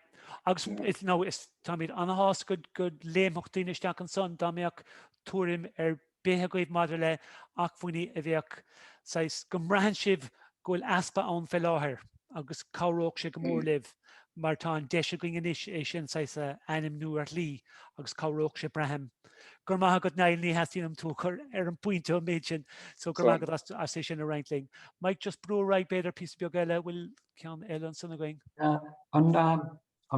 Agus is, nó is, táimid an-shásta go, go léimfeadh daoine isteach ansan dá mbeadh tuairim ar bith agaibh maidir le acmhainní a bheadh, saghas, go mbraitheann sibh go bhfuil easpa ann fé láthair agus cabhródh sé go mór libh mar tá an deis againn anois é sin, saghas, a ainmniú ar shlí agus cabhródh sé braithim. Go raibh maith agat Niall, ní theastaíonn uaim tú a chur ar an bpointe an méid sin so go raibh maith agat as é sin a roinnt linn. Mike, just brú ar aghaidh b'fhéidir píosa beag eile, bhfuil ceann eile ansin againn. An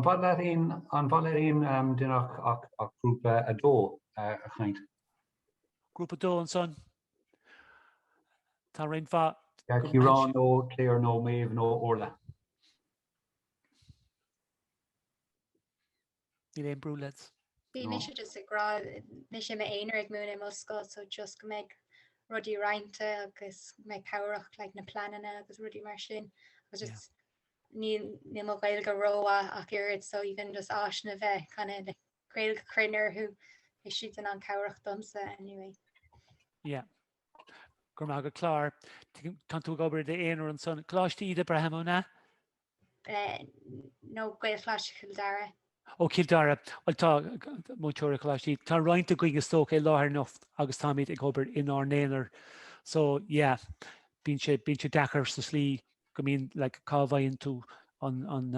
bhfuil ar aon duine ach grúpa a dó a chaint? Grúpa a dó ansan. Tá roinnt mhaith. Ciarán nó Claire nó Maeve nó Orla. Níl aon brú lads. Bhí mise just ag rá is mé i m'aonar ag múineadh i mo scoil so just go mbeidh rudaí roinnte agus go mbeidh cabhrach like na pleananna agus rudaí mar sin agus just níl níl mo Ghaeilge rómhaith ach oiread so even just áiseanna a bheith kind of like Gaeilge cruinn orthu is é sin an cabhrach domsa anyway. Yeah. Go raibh maith agat Claire. Tánn tú ag obair i d'aonar ansan. Coláiste Íde braithim nó? No Gaelcholáiste Chill Dara. Ó Chill Dara, bhuel tá múinteoirí coláistí, tá roinnt againn is dócha i láthair anocht agus táimid ag obair inár n-aonar so yeah bíonn sé bíonn sé deacair sa slí go mbíonn like cá bhfaigheann tú an an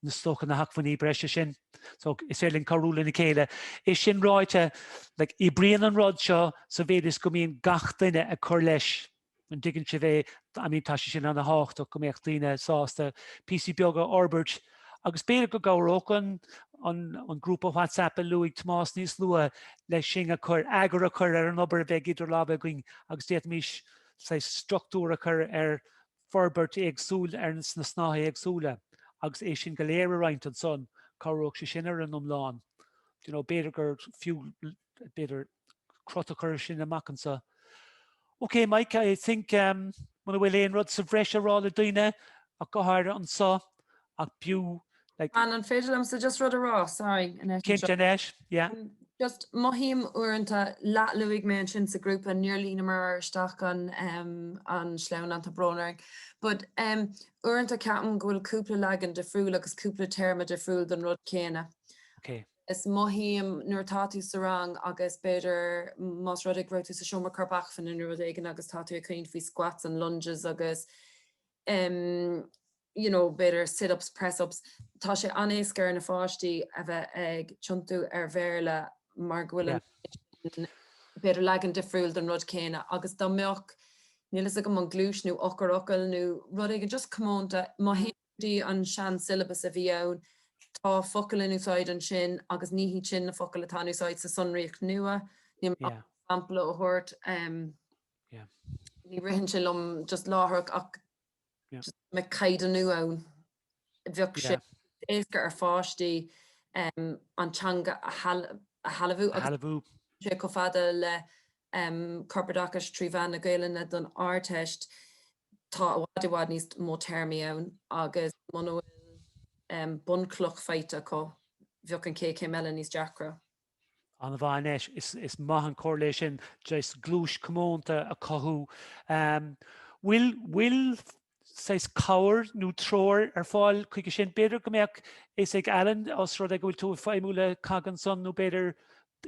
is dócha na hacmhainní breise sin so is féidir linn cabhrú lena chéile. É sin ráite like oibríonn an rud seo sa mhéid is go mbíonn gach duine ag cur leis an dtuigeann sibh é, I mean tá sé sin an-thábhachtach go mbeadh daoine sásta píosaí beaga a fhorbairt agus b'fhéidir go gcabhródh an an an grúpa WhatsApp a luaigh Tomás níos luaithe leis sin a chur eagar a chur ar an obair a bheidh idir lámha againn agus d'fhéadfaimis saghas struchtúr a chur ar forbairt éagsúil ar na snáithe éagsúla agus é sin go léir a roinnt ansan, cabhródh sé sin ar an iomlán. You know, b'fhéidir gur fiú b'fhéidir crot a chur ar sin amach anso. Ok Mike, I think um, muna bhfuil aon rud sa bhreis a rá le daoine, ach go háirithe anso, ach b'fhiú like. An an féidir liomsa just rud a rá, sorry, anois anseo? Cinnte anois, yeah. Um, just mothaím uaireanta, la, luaigh mé ansin sa grúpa, níor líonamar ar isteach an um, an sleamhnán, tá brón orainn, but um, uaireanta ceapaim go bhfuil cúpla leagan difriúil agus cúpla téarma difriúil don rud céanna. Ok. Is mothaím nuair atá tú sa rang agus b'fhéidir más rud é go raibh tú sa seomra corpacmhainne nó rud éigin agus tá tú ag caint faoi squats and lunges agus you know b'fhéidir sit ups, press ups, tá sé an-éasca ar na pháistí a bheith ag tiontú ar Bhéarla mar go bhfuil b'fhéidir leagan difriúil den rud céanna agus dá mbeadh, níl fhios agam, an gluais nó eochairfhocal nó rud éigin just comónta, má théann dtí an seansiollabas a bhí ann. Tá focail in úsáid ansin agus ní hiad sin na focail atá in úsáid sa sonraíocht nua. Níl mé ábalta sampla a thabhairt, ní ritheann sé liom just láithreach ach just go mbeadh caighdeánú ann, bheadh sé éasca ar pháistí an teanga a shealbhú agus níl sé chomh fada le corpoideachais trí mheán na Gaelainne don Ardteist, tá i bhfad, i bhfad níos mó téarmaí ann agus muna bhfuil bunchloch faighte acu, bheadh an chéad chéim eile níos deacra. An-mhaith Annette, is maith an comhairle é sin, gluais comónta a cothú. Bhfuil saghas cabhair nó treoir ar fáil chuige sin. B'fhéidir go mbeadh fhios ag Alan os rud é go bhfuil tú ag feidhmiú le COGG ansan nó b'fhéidir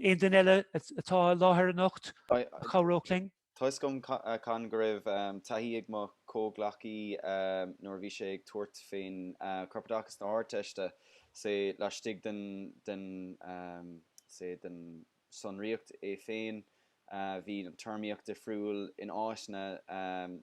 aon duine eile atá i láthair anocht a chabhródh linn. Tá fhios agam, a Chonn, go raibh taithí ag mo chomhghleacaí nuair a bhí sé ag tabhairt faoin Chorpoideachas na hArdteiste, say, laistigh den, den, say, den sonraíocht é féin. Bhí an téarmaíocht difriúil in áiteanna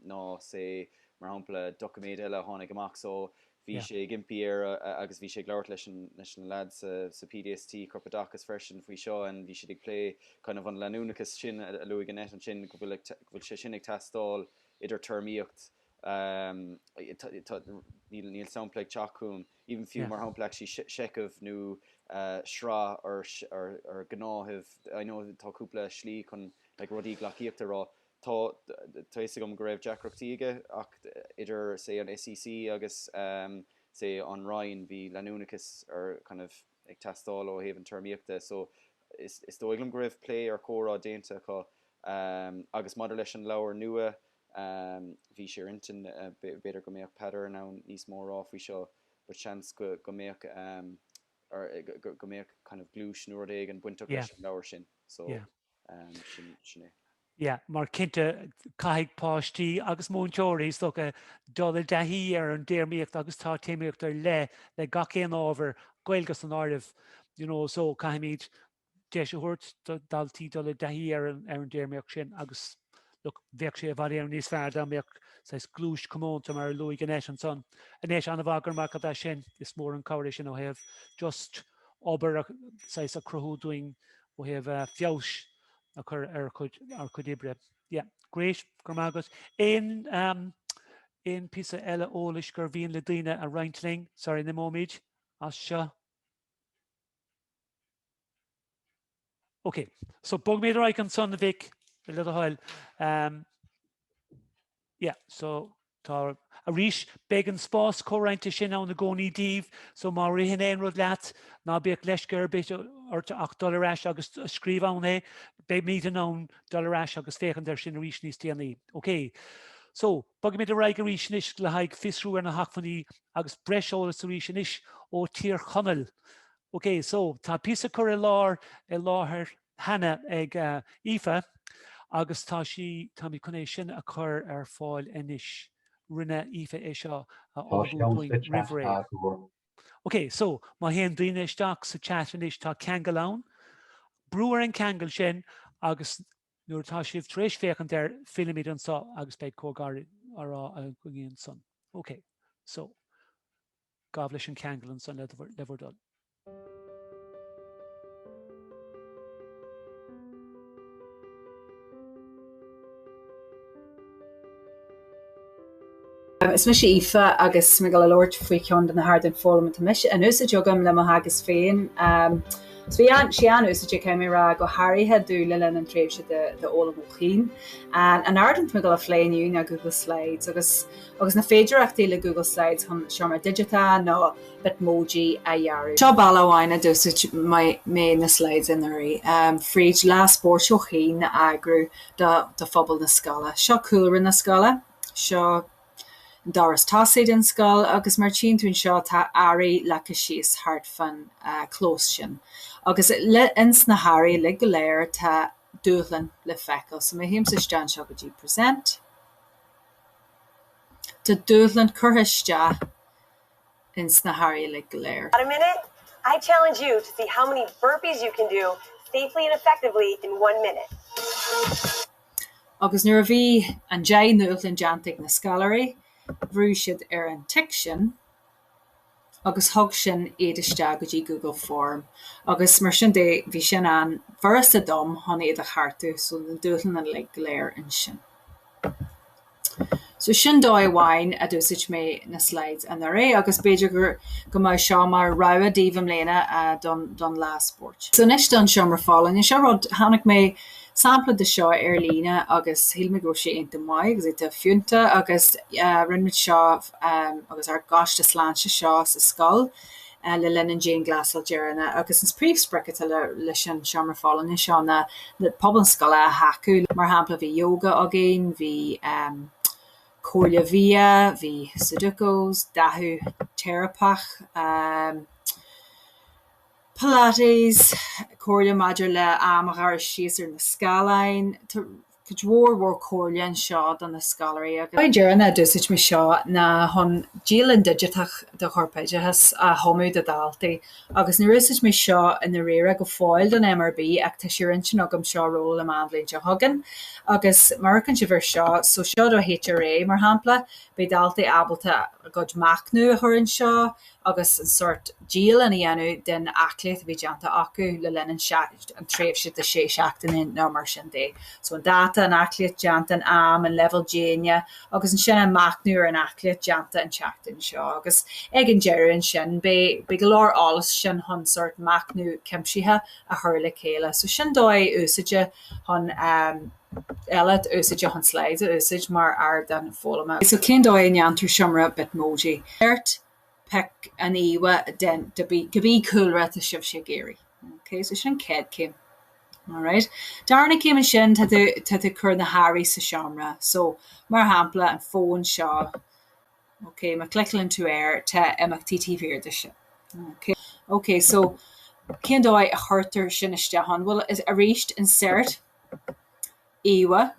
ná say, mar shampla, doiciméid eile a tháinig amach so bhí sé ag impí ar agus bhí sé ag labhairt leis na lads sa PDST, Corpoideachas, freisin faoi seo and bhí siad ag plé kind of an leanúnachas sin a luaigh Annette ansin go bhfuil sé sin ag teastáil idir téarmaíocht níl níl sampla ag teacht chugam. even fiú, mar shampla actually seicheamh nó sraith or gnáthaimh I know tá cúpla slí chun like rudaí gleacaíochta a rá tá tá fhios agam go raibh deacrachtaí aige ach idir say an SEC agus say an Roinn bhí leanúnachas or kind of ag teastáil ó thaobh an téarmaíochta so is dóigh liom go raibh plé or comhrá déanta acu agus maidir leis an leabhar nua bhí sé ar intinn b'fhéidir go mbeadh Peadar in ann níos mó a rá faoi seo but seans go mbeadh go mbeadh kind of gluais nó rud éigin bainteach leis an leabhar sin so yeah. sin é. Yeah, mar cinnte caithfidh páistí agus múinteoirí is dócha dul i dtaithí ar an dtéarmaíocht agus tá téarmaíocht ar leith le gach aon ábhar, Gaeilge san áireamh, you know, so caithfimid deis a thabhairt do daltaí dul i dtaithí ar an, ar an dtéarmaíocht sin agus look, bheadh sé i bhfad Éireann níos fearr dá mbeadh saghas gluais comónta mar a luaigh Annette ansan. Annette an-mhaith, go raibh maith agat as sin, is mór an chabhair é sin ó thaobh just obair a, saghas, a chruthú dúinn ó thaobh feabhas a chur ar ár cuid oibre. Yeah. Great. Go raibh maith agat. Aon aon píosa eile eolais gur mhian le daoine a roinnt linn? Sorry, an imeoimid as seo? Ok. So bogfaimid ar aghaidh ansan, Mhic, le do thoil. yeah so tá arís beidh an spás comhroinnte sin ann i gcónaí daoibh so má ritheann aon rud leat ná bíodh leisce ar bith ort ach dul ar ais agus scríobh ann é beimid in ann dul ar ais agus féachaint ar sin arís níos déanaí OK so bogfaimid ar aghaidh arís anois le haghaidh fiosrú ar na hacmhainní agus breis eolais arís anois ó Thír Chonaill OK so tá píosa curtha i láthair i láthair cheana ag Aoife agus tá sí, táimid chun é sin a chur ar fáil anois. Rinne Aoife é seo a ullmhú dúinn roimh ré. Ok, so, má théann daoine isteach sa chat anois, tá ceangal ann. Brúigh ar an gceangal sin agus nuair atá sibh tar éis féachaint air, fillfimid anseo agus beidh comhrá gairid againn ansan. Ok, so. Gabh leis an gceangal ansan le bhur dtoil. Is mise Aoife agus tá mé ag gabháil a labhairt faoi ceann de na hardáin foghlama atá mise ag úsáid agam le mo theagasc féin. So bhí sé an-úsáideach caithfidh mé a rá, go háirithe domh le linn an tréimhse d'fhoghlaim ó chian. An ardán atá mé ag gabháil a phlé inniu ná Google Slides, agus na féidearthachtaí le Google Slides chun seomra digiteach nó Bitmoji a dhearadh. Seo bealach amháin a d'úsáid mé na slides anuraidh, fríd lá spóirt ó chian a eagrú do phobal na scoile. Seo cúlra na scoile, seo an doras tosaigh den scoil agus mar a tchíonn tú anseo tá earraí leagtha síos thart fán chlós sin agus le, ins na hearraí uilig go léir tá dúshlán le feiceáil. So má théimse isteach anseo go dtí Present, tá dúshlán curtha isteach ins na hearraí uilig go léir. In a minute, I challenge you to see how many burpees you can do safely and effectively in one minute. Agus nuair a bhí an, an dúshlán déanta ag na scoláirí, bhrúigh siad ar an tic sin. agus thug sin iad isteach go dtí Google Form agus mar sin de bhí sin an-fhurasta dom chun iad a cheartú so na dúshláin uilig go léir ansin. So sin dóigh amháin a d'úsáid mé na slides anuraidh agus b'fhéidir gur, go mbeadh seo mar rogha daoibh i mbliana don, don lá spóirt. So anois don seomra folláine seo, rud, chonaic mé sampla de seo ar líne agus shíl mé go raibh sé iontach maith agus iontach fiúntach agus rinne muid seo, ar ár gcoiste sláinte seo sa scoil le linn an dianghlasáil deireanach agus an príomhsprioc atá leis an seomra folláine seo ná pobal na scoile a thacú. Mar shampla, bhí yoga againn, bhí comhairle bhia, bhí sudokus, dathú teiripeach, pilates, comhairle maidir le am a ghearradh síos ar na scáileáin. Cuid mhór mhór comhairle anseo do na scoláirí. Rud deireanach a d'úsáid mé seo ná chun dialann digiteach do chorpoideachas a chumadh do dhaltaí agus níor úsáid mé seo i ndáiríre go fóill don MRB ach tá sé ar intinn agam seo a róláil amach an bhliain seo chugainn agus má amharcann sibh ar seo so seo do HRA mar shampla beidh daltaí ábalta a gcuid machnamh a chur anseo agus an sórt dialann a dhéanamh den aclaíocht a bhí déanta acu le linn an tréimhse de shé seachtaine nó mar sin de. So an dáta, an aclaíocht déanta, an am, an leibhéal déine agus ansin an machnamh ar an aclaíocht déanta an tseachtain seo agus ag an deireadh ansin beidh go leor eolais ansin chun sórt machnamh cuimsithe a chur le chéile. So sin dóigh úsáide chun. eile úsáide chun slides a úsáid mar ardán foghlama. So cén dóigh a ndéantar seomra Bitmoji? Pick an íomhá den cibí cúlra atá sibhse ag iarraidh. OK, so sin an chéad céim. Alright. Darna céim ansin tá tú ag cur na hearraí sa tseomra. So, mar shampla, an fón seo, OK, má cliceálann tú air tá imeachtaí taobh thiar de sin. OK, OK, so cén dóigh a chuirtear sin isteach ann? Bhuel, arís insert. íomhá,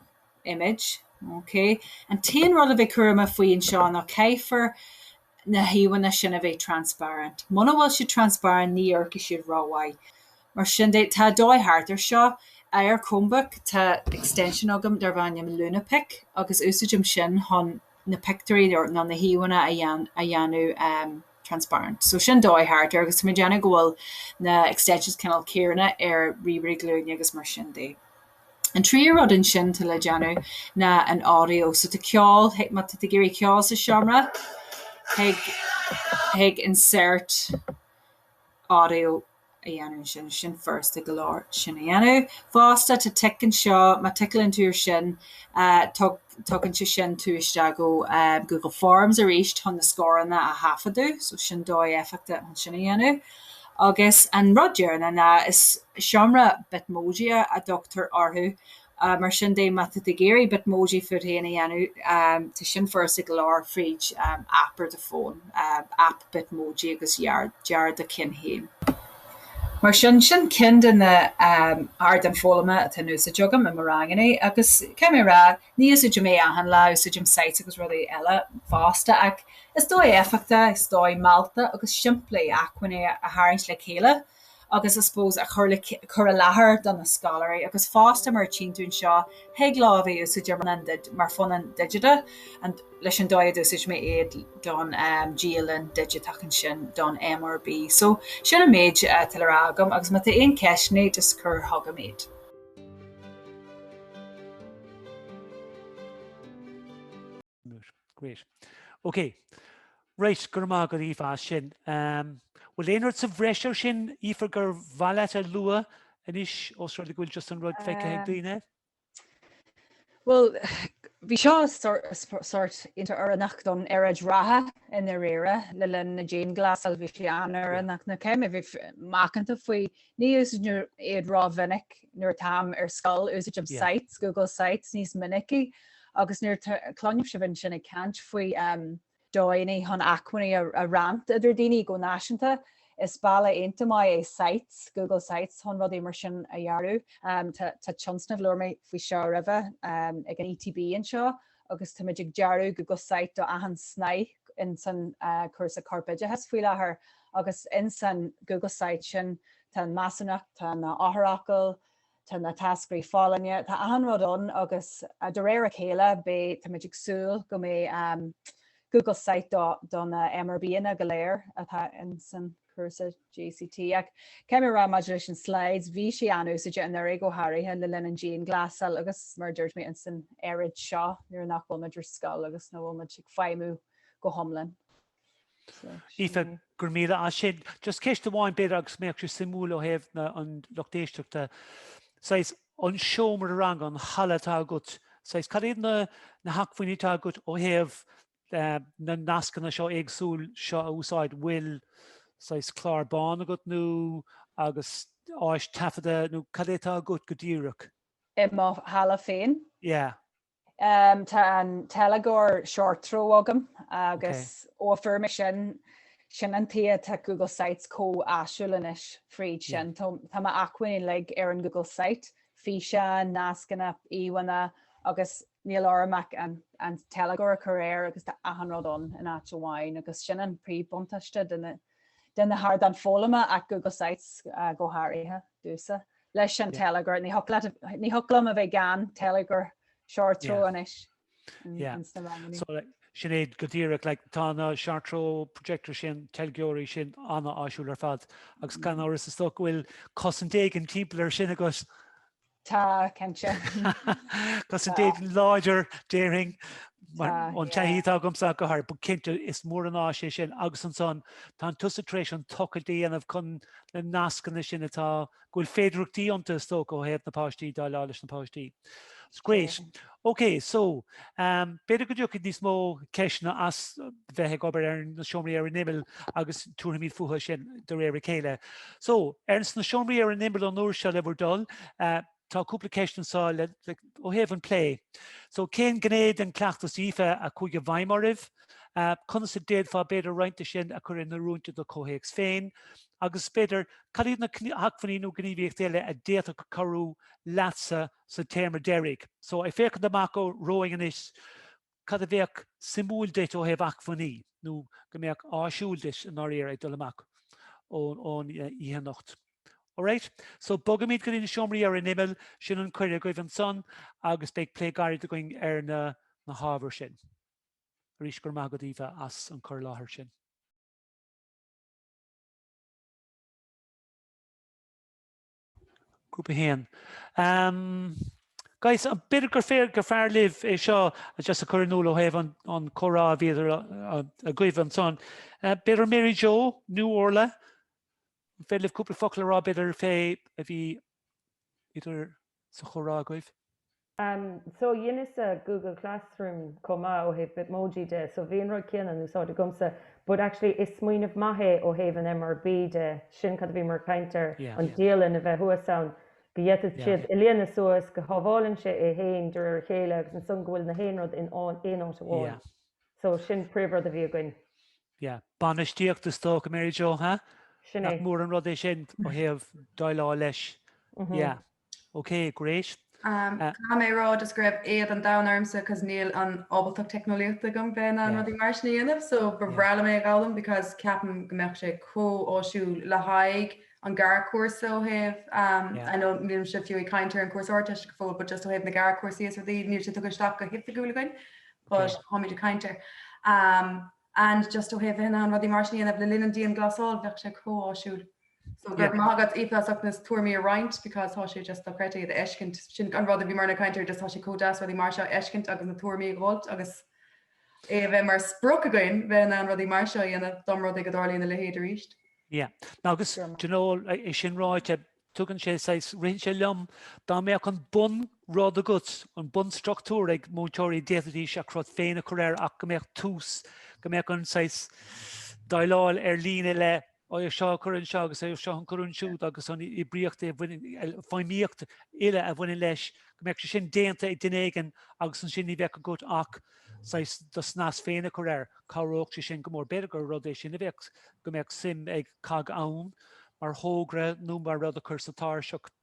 image, OK. An t-aon rud le bheith cúramach faoi anseo ná caithfear na híomhánna sin a bheith transparent. Muna bhfuil siad transparent ní oibreochaidh siad rómhaith. Mar sin de, tá dóigh thart air seo. Ar Chromebook tá extension agam darb ainm Lunapic agus úsáidim sin chun. na pictiúirí nó na híomhánna a dhéanamh transparent. So sin dóigh thart air agus tá mé ag déanamh go bhfuil na extensions cineál céanna ar ríomhairí glúine agus mar sin de. An tríú rud ansin atá le déanamh ná an audio. So tá ceol, má tá tú ag iarraidh ceol sa seomra, téigh chuig insert audio. a dhéanamh ansin, sin furasta go leor sin a dhéanamh fosta, tá tic anseo, má ticleann tú ar sin, tugann sé sin tú isteach go Google Forms arís chun na scóranna a thaifeadadh, so sin dóigh éifeachtach chun sin a dhéanamh. Agus an rud deireanach ná, is seomra Bitmoji a dtugtar orthu, Mar sin de, má tá tú ag iarraidh Bitmoji fút héin a dhéanamh, tá sin furasta go leor fríd aip ar do fón, Aip Bitmoji, agus dear do cheann héin. Mar sin, sin ceann de na hardáin foghlama atá in úsáid agam i mo ranganna agus, caithfidh mé a rá, ní úsáidim é achan lá, úsáidim sites agus rudaí eile fosta ach is dóigh éifeachtach, is dóigh mealltach agus simplí acmhainní a tharraingt le chéile. agus I suppose a chur i láthair do na scoláirí agus fosta mar a tchí tú anseo thig leo a bheith in úsáid ar ndóigh mar phunann digiteach leis an dóigh a d'úsáid mé iad don dialann digiteach ansin don MRB. So sin an méid atá le rá agam agus má tá aon ceisteanna just cur chugam iad. Moot. Great. Ok. Right, go raibh maith agat Aoife as sin. Um, bhfuil aon rud sa bhreis ar sin, Aoife, gur mhaith leat a lua anois os rud go bhfuil just an rud feicthe ag daoine? Bhuel, bhí seo sórt iontach oiriúnach don aeráid reatha i ndáiríre le linn na dianghlasáil, bhí sé an-oiriúnach. Now caithfidh mé bheith macánta faoi Ní úsáidim iad rómhinic nuair atáim ar scoil, úsáidim sites, Google Sites, níos minicí agus nuair cluinim sibh ansin ag caint faoi dhóigheannaí chun acmhainní a roinnt idir daoine go náisiúnta, is bealach iontach maith é sites, Google Sites, chun rudaí mar sin a dhearadh. Tá tionscnamh, labhair mé faoi seo roimhe, ag an ETB anseo agus táimid ag dearadh Google Site do achan snáithe in san cúrsa corpoideachas faoi láthair agus in san Google Site sin tá an measúnacht, tá na eochairfhocail, tá na táscairí folláine, tá achan rud ann agus de réir a chéile beidh, táimid ag súil go mbeidh Google Site do na MRBanna go léir atá in san. cúrsa JCT. Ach caithfidh mé a rá maidir leis an slides, bhí sé an-úsáideach anuraidh go háirithe le linn an dianghlasáil agus, mar a dúirt mé, ins an aeráid seo nuair nach bhfuil muid ar scoil agus nó bhfuil muid ag feidhmiú go hiomlán. Aoife, go raibh míle as sin. Just ceist amháin b'fhéidir agus mbeadh sé suimiúil ó thaobh na an lucht éisteachta, saghas an seomra ranga, an halla atá agat, saghas cad iad na hacmhainní atá agat ó thaobh na nascanna seo éagsúil seo a úsáid, bhfuil saghas clár bán agat nó agus áis taifeadta nó cad é atá agat go díreach? I mo halla féin? Yeah. Tá an teilgeoir short throw agam agus ó a fuair mé sin, sin an tuighe atá Google Sites chomh áisiúil anois fríd sin. Tá mo acmhainní uilig ar an Google Site, físeáin, nascanna, íomhánna agus Níl orm ach an teilgeoir a chur air agus tá achan rud ann in áit amháin agus sin an príomhbhuntáiste de na hardáin foghlama ach Google Sites go háirithe. domhsa leis an teilgeoir. Ní thiocfadh liom a bheith gan teilgeoir short throw anois. So sin é go díreach, like, tá na short throw projectors sin, teilgeoirí sin an-áisiúil ar fad agus gan amhras is dócha go bhfuil cosaint éigin timpeall air sin agus. Tá, cinnte. Cosaint éigin láidir, déarfainn, ón taithí atá agamsa go háirid, but cinnte is mór an áis é sin agus ansan tánn tusa tar éis an tochailt a dhéanamh chun na nascanna sin atá go bhfuil féidearthachtaí iontu is dócha ó thaobh na páistí dá leá leis na páistí. It's great. OK, so, b'fhéidir go dtiocfaidh níos mó ceisteanna as bheith ag obair ar na seomraí ar an imeall agus tabharfaimid fúthu sin de réir a chéile. So, ar ais sna seomraí ar an imeall an uair seo le bhur dtoil, tá cúpla ceist anseo le, ó thaobh an plé. So, cén ghné den chleachtas Aoife a chuaigh i bhfeidhm oraibh? Conas a d'fhéadfá b'fhéidir roinnt de sin a chur in oiriúint i do chomhthéacs féin? Agus b'fhéidir, cad iad na hacmhainní nó gníomhaíochtaí eile a d'fhéadfadh cabhrú leatsa sa téarma deiridh. So, ag féachaint amach romhainn anois, cad a bheadh suimiúil duit ó thaobh acmhainní, nó go mbeadh áisiúil duit i ndáiríre ag dul amach ón oíche anocht? Alright? So, bogfaimid go dtí na seomraí ar an imeall, sin an cuireadh agaibh ansan, agus beidh plé gairid againn ar na hábhair sin. Arís, go raibh maith agat, Aoife, as an cur i láthair sin. Grúpa 1. Guys, b'fhéidir gur fearr libh é seo just a chur in iúl ó thaobh an comhrá a bhí idir agaibh ansan. B'fhéidir Mary Jo, nó Orla, an féidir libh cúpla focal a rá b'fhéidir fé a bhí idir sa chomhrá agaibh? so dheineas-sa google classroom chomh maith ó thaobh bitmoji de so bhí an rud céanna in úsáid agamsa but actually is smaoineamh maith é ó thaobh an MRB de sin cad a bhíomar ag caint ar an dialann a bheith thuas ann go bhféadfadh siad é a líonadh suas go shábhálann sé é féin de réir a chéile agus ansan go bhfuil gach aon rud in aon áit amháin so sin príomhrud a bhí againn. Yeah bainistíocht is dócha Mary Jo ha? Sin é. Nach mór an rud é sin ó thaobh déileáil leis. Yeah. Ok, great. Caithfidh mé a rá just go raibh éad an domhain ormsa because níl an ábaltacht teicneolaíochta agam bheith in ann rudaí mar sin a dhéanamh so ba bhreá liom é a dh'fhoghlaim because ceapaim go mbeadh sé chomh áisiúil le haghaidh an gearrchúrsa ó thaobh I know nílimse fiú ag caint ar an cúrsa Ardteiste go fóill but just ó thaobh na gearrchúrsaí is rudaí níl sé tugtha isteach go hoifigiúil againn but táimid ag caint air and just ó thaobh bheith in ann rudaí mar sin a dhéanamh le linn an dianghlasáil bheadh sé chomh áisiúil. So go raibh maith agat Aoife as ucht na tuairmí a roinnt because tá sé just dochreidte iad a fheiscint. Sin an rud a bhíomarna ag caint air just tá sé chomh deas rudaí mar seo a fheiscint agus na tuairmí a dh'fháilt agus é a bheith mar sprioc againn bheith in ann rudaí mar seo a dhéanamh dá mba rud é go dtarlódh a leithéid arís. Yeah. No agus do you know é sin ráite tugann sé saghas ritheann sé liom dá mbeadh an bunrud agat an bunstruchtúr ag múinteoirí d'fhéadfaidís a gcruth féin a chur air ach go mbeadh tús go mbeadh an saghas déileáil ar líne le é seo a chur anseo agus é seo a chur ansiúd agus an oibríocht a bhaineann, feidhmíocht uile a bhaineann leis, go mbeadh sé sin déanta ag duine éigin agus ansin ní bheadh agat ach saghas do snas féin a chur air. Cabhródh sé sin go mór. B'fhéidir gur rud é sin a bheadh, go mbeadh suim ag COGG ann mar thogra nó mar rud a chur sa tairseach.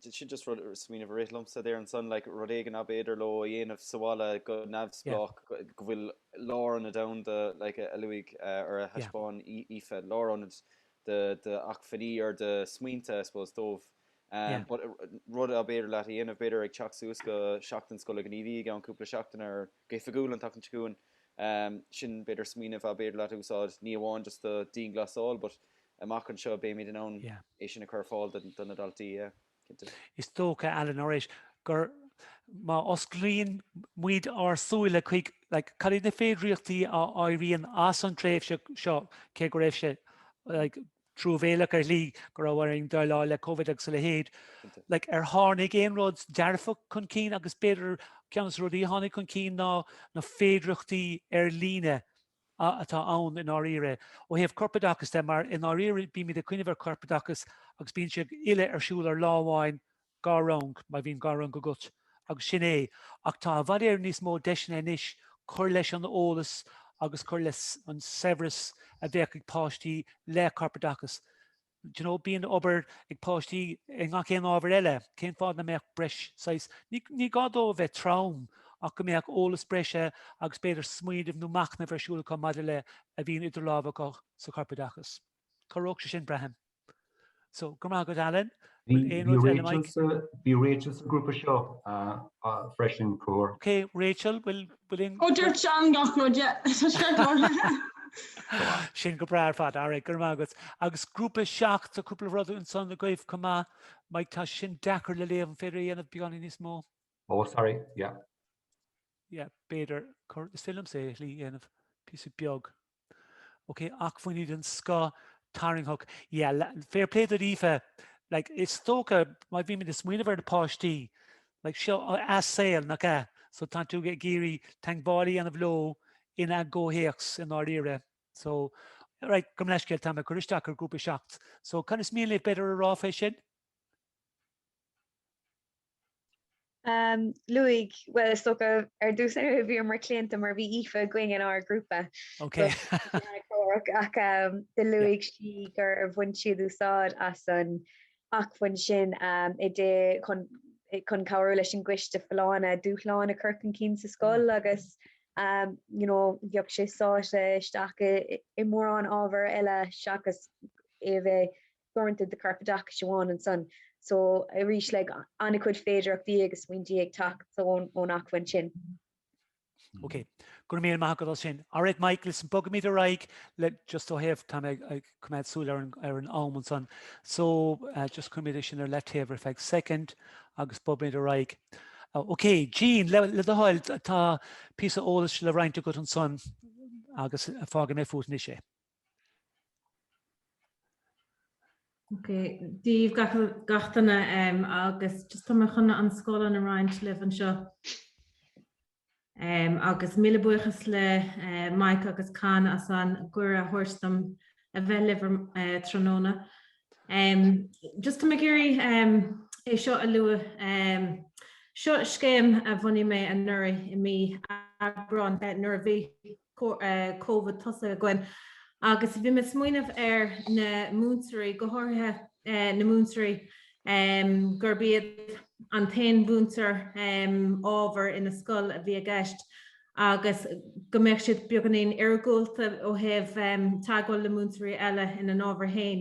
Sin just rud, smaoineamh a rith liomsa there ansan, like, rud éigin a b'fhéidir leo a dhéanamh sa bhaile go neamhspleách, go bhfuil lárionad domhanda, like, a luaigh, or a thaispeáin Aoife, lárionad d'acmhainní or de smaointe, I suppose, dóibh. But rud a b'fhéidir leat a dhéanamh, b'fhéidir ag teacht suas go Seachtain Scoile Ghníomhaí i gceann cúpla seachtain or go hoifigiúil an tseachtain seo chugainn, sin b'fhéidir smaoineamh a b'fhéidir leat a úsáid, ní amháin just do dianghlasáil, but amach anseo, beimid in ann é sin a chur ar fáil do na daltaí, cinnte. Is dócha, Alan, arís gur má osclaíonn muid ár súile chuig, like, cad iad na féidearthachtaí a éiríonn as an tréimhse seo, cé go raibh sé, like, truamhéileach ar shlí go raibh orainn déileáil le Covid agus a leithéid, like, ar tháinig aon rud dearfach chun cinn agus b'fhéidir ceann de na rudaí a tháinig chun cinn ná na féidearthachtaí ar líne, a atá ann i ndáiríre, ó thaobh corpoideachais de, mar i ndáiríre bímid ag cuimhneamh ar chorpoideachas agus bíonn sé uile ar siúl ar lá amháin, dhá rang, má bhíonn dhá rang agat, agus sin é. Ach tá i bhfad Éireann níos mó deiseanna anois cur leis an eolas agus cur leis an saibhreas a bheadh ag páistí le corpoideachas. you know bíonn obair ag páistí i ngach aon ábhar eile, cén fáth nach mbeadh breis saghas, ní gá dó a bheith trom ach go mbeadh eolas breise agus b'fhéidir smaoineamh nó machnamh a bheith ar siúl acu maidir le a bhíonn idir lámha acu sa chorpoideachas. Chabhródh sé sin, braithim. So, go raibh maith agat, Alan. Bhí Rachel sa grúpa seo freisin, Cór. Okay, Rachel, bhfuil. Bhuel, in. Ó, dúirt Seán gach rud, yeah. Tá sé cláraithe. Tá sin go breá ar fad. All right, go raibh maith agat. Agus grúpa 7, tá cúpla rud ansan agaibh chomh maith. Mike, tá sin deacair le léamh, an féidir é a dhéanamh beagáinín níos mó? Oh, sorry, yeah. Yeah, b'fhéidir. Is féidir liomsa é a dhéanamh píosa beag. OK, acmhainní den scoth, tarraingteach. Yeah, fair play d'Aoife. Like, is dócha, má bhímid ag smaoineamh ar na páistí, like, seo a saol, nach ea? So, tánn tú ag iarraidh teagmháil a dhéanamh leo ina gcomhthéacs i ndáiríre. So, right, gabh mo leithscéal, tá mé ag cur isteach ar grúpa seacht. So, cad is mian libh b'fhéidir a rá fé sin? Ehm, luaigh, bhuel, is dócha ar dtús, ah, bhíomar claonta mar bhí Aoife againn in ár ngrúpa. Ok. Ach ehm, do luaigh sí gur bhain siad úsáid as an acmhainn sin ehm, i dtae chun, chun cabhrú leis an gcoiste folláine dúshláin a chur chun cinn sa scoil agus ehm, you know, bheadh sé sáite isteach i, i mórán ábhar eile seachas é a bheith uaireanta the carpet ach siobhán ansan so arís an-chuid féidearthachtaí agus smaointí ag teacht ón acmhainn sin. Ok, go raibh míle maith agat as sin. Alright Michael, so, bogaimid ar aghaidh le just ó thaobh, tá mé ag ag coimeád súil ar an ar an am ansan so just cuirimid é sin ar leataobh ar feadh soicind agus bogaimid ar aghaidh. Ok, Jean, le le do thoil, atá píosa eolais le roinnt agat ansan agus fágfaidh mé fút anois é. Okay, Dia daoibh gach, gach duine um, agus just tá mé chun an scáileán a roinnt libh anseo. Um, agus míle buíochas le uh, Mike agus Con as an gcuireadh a thabhairt dom a bheith libh uh, tráthnóna. Um, just tá mé ag iarraidh um, é seo a lua um, seo scéim a bhunaigh mé anuraidh i mí Aibreáin uh, nuair a bhí Covid tosaithe againn agus bhí mé ag smaoineamh ar na múinteoirí, go háirithe na múinteoirí gurb iad an t-aon mhúinteoir ábhair ina scoil a bhí i gceist, agus go mbeadh siad beagáinín iargúlta ó thaobh teagmháil le múinteoirí eile ina n-ábhair féin.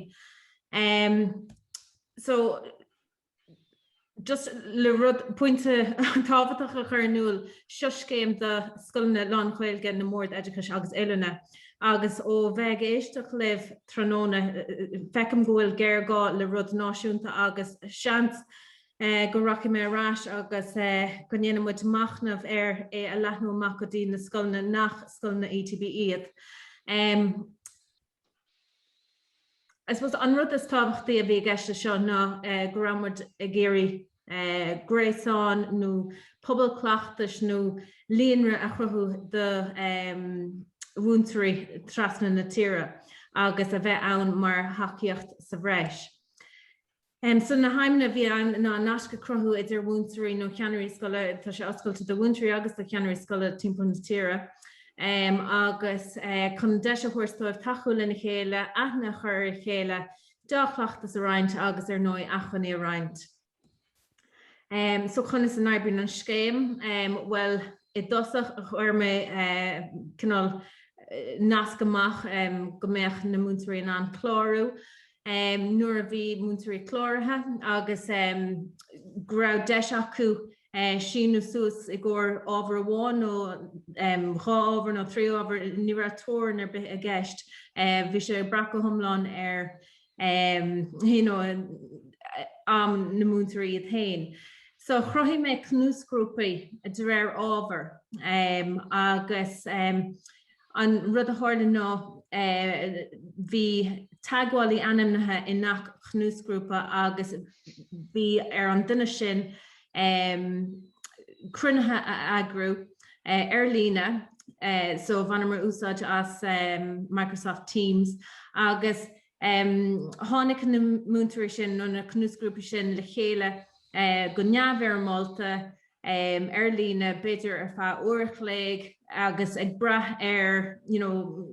Just le rud pointe tábhachtach a chur in iúl, seo scéim do scoileanna lán-Ghaeilge na mBord Oideachais agus Oiliúna agus ó bheith ag éisteacht libh tráthnóna feicim go bhfuil géarghá le rud náisiúnta agus seans go rachaidh mé ar ais agus go ndéanfaidh muid machnamh air é a leathnú amach go dtí na scoileanna nach scoileanna ETB iad. I suppose an rud is tábhachtaí a bhí i gceist le seo ná go raibh muid ag iarraidh gréasán nó pobal cleachtais nó líonra a chruthú do mhúinteoirí trasna na tíre agus a bheith ann mar thacaíocht sa bhreis. So na haidhmeanna a bhí ann ná naisc a chruthú idir mhúinteoirí nó cheannairí scoile, tá sé oscailte do mhúinteoirí agus do cheannairí scoile timpeall na tíre, agus chun deis a thabhairt dóibh tacú lena chéile, aithne a chur ar a chéile, deá-chleachtas a roinnt agus ar ndóigh acmhainní a roinnt. So conas a n-oibríonn an scéim? Bhuel, i dtosach chuir mé cineál nasc amach go mbeadh na múinteoirí in ann clárú nuair a bhí múinteoirí cláraithe agus go raibh deis acu síniú suas i gcomhair ábhar amháin nó dhá ábhar nó trí ábhar, ní raibh teorainn ar bith i gceist, bhí sé ag brath go hiomlán ar you know, am na múinteoirí iad féin. So chruthaigh mé cnuasghrúpaí de réir ábhar agus an rud a tharla ná bhí teagmhálaí ainmnithe i ngach cnuasghrúpa agus bhí ar an duine sin cruinnithe a eagrú ar líne, so bhaineamar úsáid as Microsoft Teams agus tháinig na múinteoirí sin nó na cnuasghrúpaí sin le chéile go neamhfhoirmeálta ar líne b'fhéidir ar feadh uair an chloig agus ag brath ar, you know,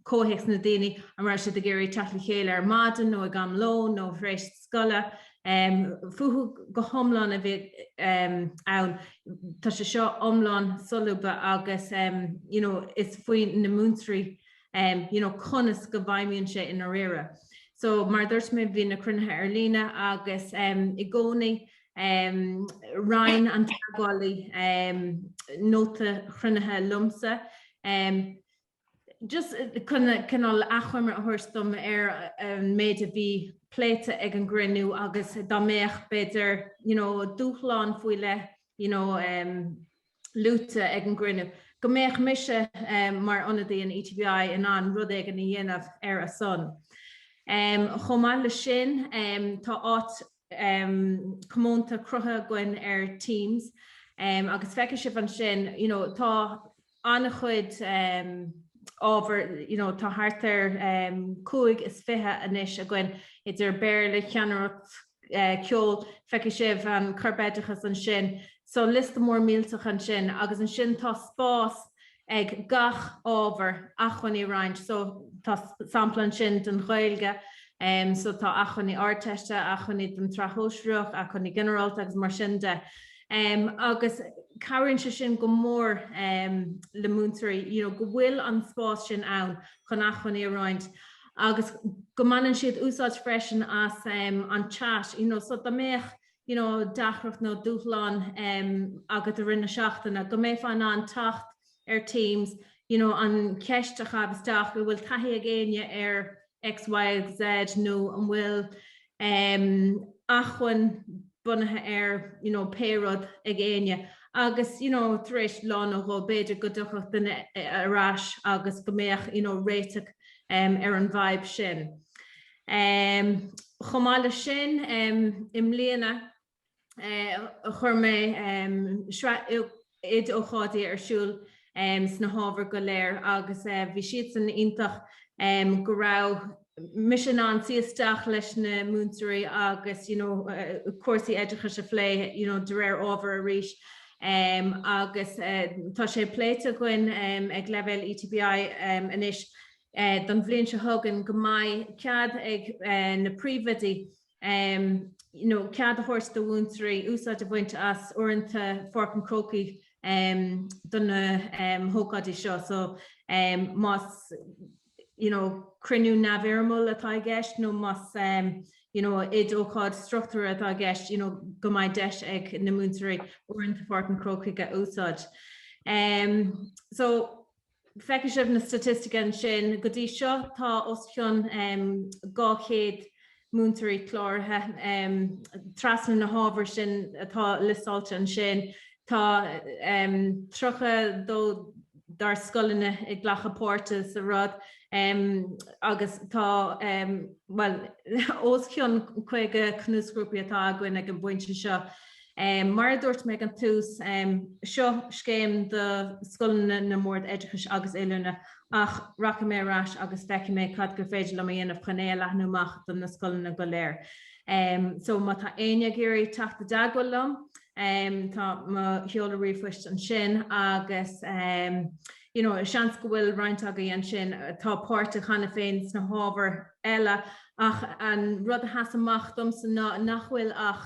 comhthéacs na daoine an raibh siad ag iarraidh teacht le chéile ar maidin nó ag am lóin nó tar éis scoile. Fúthu go hiomlán a bhí ann. Tá sé seo iomlán solúbtha agus you know is faoi na múinteoirí you know conas go bhfeidhmíonn sé i ndáiríre. So mar a dúirt mé bhí na cruinnithe ar líne agus i gcónaí roinn an teagmhálaí nóta chruinnithe liomsa. Just cineál achoimre a thabhairt dom ar an méid a bhí pléite ag an gcruinniú agus dá mbeadh, b'fhéidir, you know, dúshlán faoi leith, you know, luaite ag an gcruinniú, go mbeadh mise mar ionadaí an ETBI in ann rud éigin a dhéanamh ar a son. Chomh maith leis sin, tá áit comónta cruthaithe againn ar Teams agus feicfidh sibh ansin, you know, tá an-chuid ábhar, you know tá thart ar cúig is fiche anois againn idir Béarla, ceannaireacht, ceol, feicfidh sibh an Corpoideachas ansin, so liosta mór millteach ansin agus ansin tá spás ag gach ábhar acmhainní a roinnt, so tá sampla ansin den Ghaeilge, so tá acmhainní Ardteiste, acmhainní don tSraith Shóisearach, acmhainní ginearálta agus mar sin de. agus cabhraíonn sé sin go mór le múinteoirí you know go bhfuil an spás sin ann chun acmhainní a roinnt agus go mbaineann siad úsáid freisin as an chat you know so dá mbeadh you know deacracht nó dúshlán agat i rith na seachtaine go mbeifeá in ann teacht ar Teams, you know an cheist a chaitheamh isteach, bhfuil taithí ag éinne ar X, Y, Z nó an bhfuil em acmhainn bunaithe ar you know pé rud ag éinne agus you know tar éis lá nó dhó b'fhéidir go dtiocfadh duine ar ais agus go mbeadh you know réiteach em ar an bhfadhb sin. Em Chomh maith leis sin em i mbliana, chuir mé sraith oid-ócáidí ar siúl sna hábhair go léir agus bhí siad san iontach go raibh mise in ann suí isteach leis na múinteoirí agus you know cúrsaí oideachais a phlé you know de réir ábhair arís agus tá sé pléite againn ag leibhéal ETBI anois don bhliain seo chugainn go mbeidh cead ag na príomhoidí you know, cead a thabhairt do mhúinteoirí úsáid a bhaint as uaireanta Pháirc an Chrócaigh um do na um hócáidí seo. So um más you know, cruinniú neamhfhoirmiúil atá i gceist nó más um you know, oid-ócáid struchtúrtha atá i gceist you know, go mbeidh deis ag na múinteoirí uaireanta Pháirc an Chrócaigh a úsáid. Um so, Feicfidh sibh na staitisticí ansin. Go dtí seo tá os cionn 200 múinteoirí cláraithe. Trasna na hábhair sin atá liostáilte ansin, tá 32 dár scoileanna ag glacadh páirte sa rud agus tá, bhuel, os cionn 50 cnuasghrúpaí atá againn ag an bpointe seo. Mar a dúirt mé ag an tús, seo scéim do scoileanna na mBord Oideachais agus Oiliúna ach rachaidh mé ar ais agus feicfidh mé cad gur féidir liom a dhéanamh chun é a leathnú amach do na scoileanna go léir. So má tá éinne ag iarraidh teacht i dteagmháil liom, tá mo sheoladh ríomhphoist ansin agus you know seans go bhfuil roinnt agaibh ansin atá páirteach cheana féin sna hábhair eile ach an rud a sheas amach domsa ná nach bhfuil ach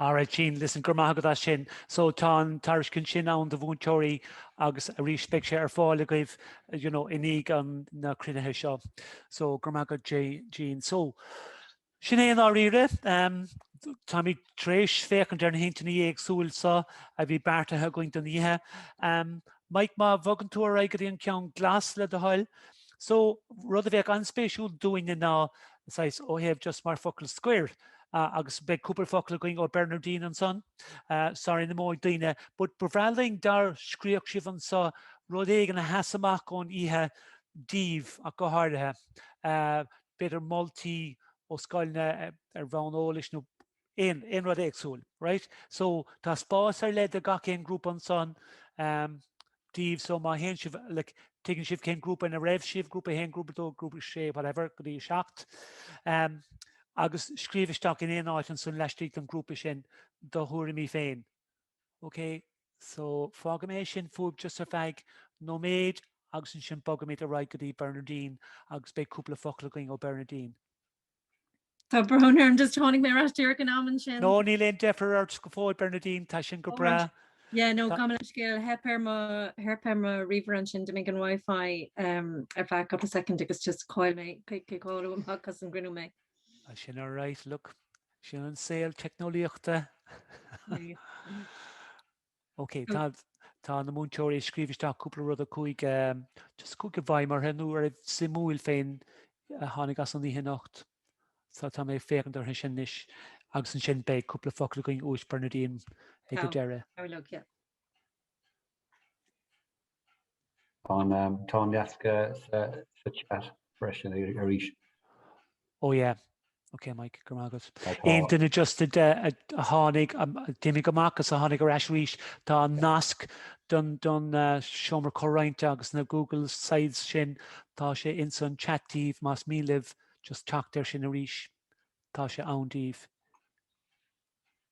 Alright Jean, listen, go raibh maith agat as sin. So tá an tairiscint sin ann do mhúinteoirí agus arís beidh sé ar fáil agaibh you know, i ndiaidh na cruinnithe seo. So go raibh maith agat Jean. So sin é i ndáiríre. Um, táimid tar éis féachaint ar na hintinní éagsúla so a bhí beartaithe againn don oíche. Um, Mike, má bhogann tú ar aghaidh go dtí an ceann glas le do thoil, so rud a bheadh an-spéisiúil dúinne ná saghas, ó thaobh just mar focal scoir agus beidh cúpla focal againn ó Bernardine ansan sorry ná himíodh daoine but ba bhreá linn dá scríobhfadh sibh anso rud éigin a sheas amach ón oíche daoibh ach go háirithe, b'fhéidir moltaí ó scoileanna ar bhonn eolais nua. aon, aon rud éagsúil, right? So, tá spás ar leith do gach aon grúpa ansan, em, díobh, so má théann sibh, like, tuigeann sibh cén grúpa ina raibh sibh, grúpa a haon, grúpa a dó, grúpa a sé, whatever, go dtí a seacht. Em, agus scríobh isteach in aon áit ansan laistigh don ghrúpa sin do thuairimí féin. Okay? So, fágfaidh mé é sin fúibh just ar feadh nóiméid agus ansin bogfaimid ar aghaidh go dtí Bernardine agus beidh cúpla focal againn ó Bernardine. Tá brón orm just tháinig mé ar ais díreach in am ansin. No, níl aon deifir ort go fóill Bernadine, tá sin go breá. Yeah, no, gabh mo leithscéal, theip ar mo, theip ar mo ríomhaire ansin, d'imigh an Wi-Fi um ar feadh couple of second agus just chaill mé, cai, cai, caitheadh amach as an gcruinniú mé. Ah, sin alright, look, sin an saol teicneolaíochta. Ok, tá na múinteoirí ag scríobh isteach cúpla rud, a cúig just cúig a bhí maith nó ar suimiúil féin a tháinig as an oíche anocht. So tá mé ag féachaint orthu sin anois agus ansin beidh cúpla focal againn uait Bernadine ag go deireadh. Tá, tá, yeah. Tá an nasc sa chat freisin arís. Oh yeah. Ok Mike, go raibh maith agat. Aon duine just a tháinig d'imigh amach is a tháinig ar ais arís, tá an nasc don uh, seomra comhroinnte agus na Google Sites sin, tá sé ins an chat díobh más mian libh just teacht ar sin arís. Tá sé ann díobh.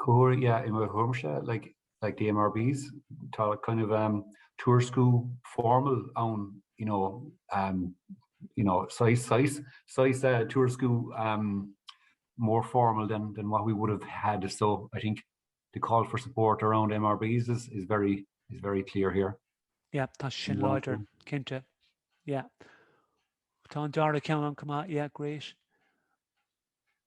Comhghuaire, yeah, i mo thuairimse, like, like the MRBs, tá kind of um tuairisciú formal ann, you know, um, you know, saghas, saghas, saghas eh, tuairisciú um more formal than than what we would have had, so I think the call for support around MRBs is is very is very clear here. Yeah, tá sin láidir, cinnte. Yeah. Tá an dara ceann ann chomh maith, yeah, great.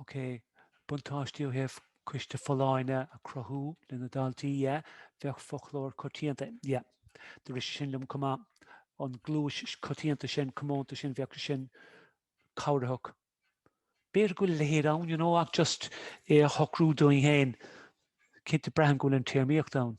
OK. Buntáistí ó thaobh Coiste Folláine a chruthú leis na daltaí, yeah. Bheadh foclóir coitianta, yeah. Dúradh sin liom chomh maith. An gluais choitianta sin, comónta sin, bheadh sé sin cabhrach. B'fhéidir go bhfuil a leithéid ann, you know, ach just é a shocrú dúinn féin. Cinnte, braithim go bhfuil an téarmaíocht ann.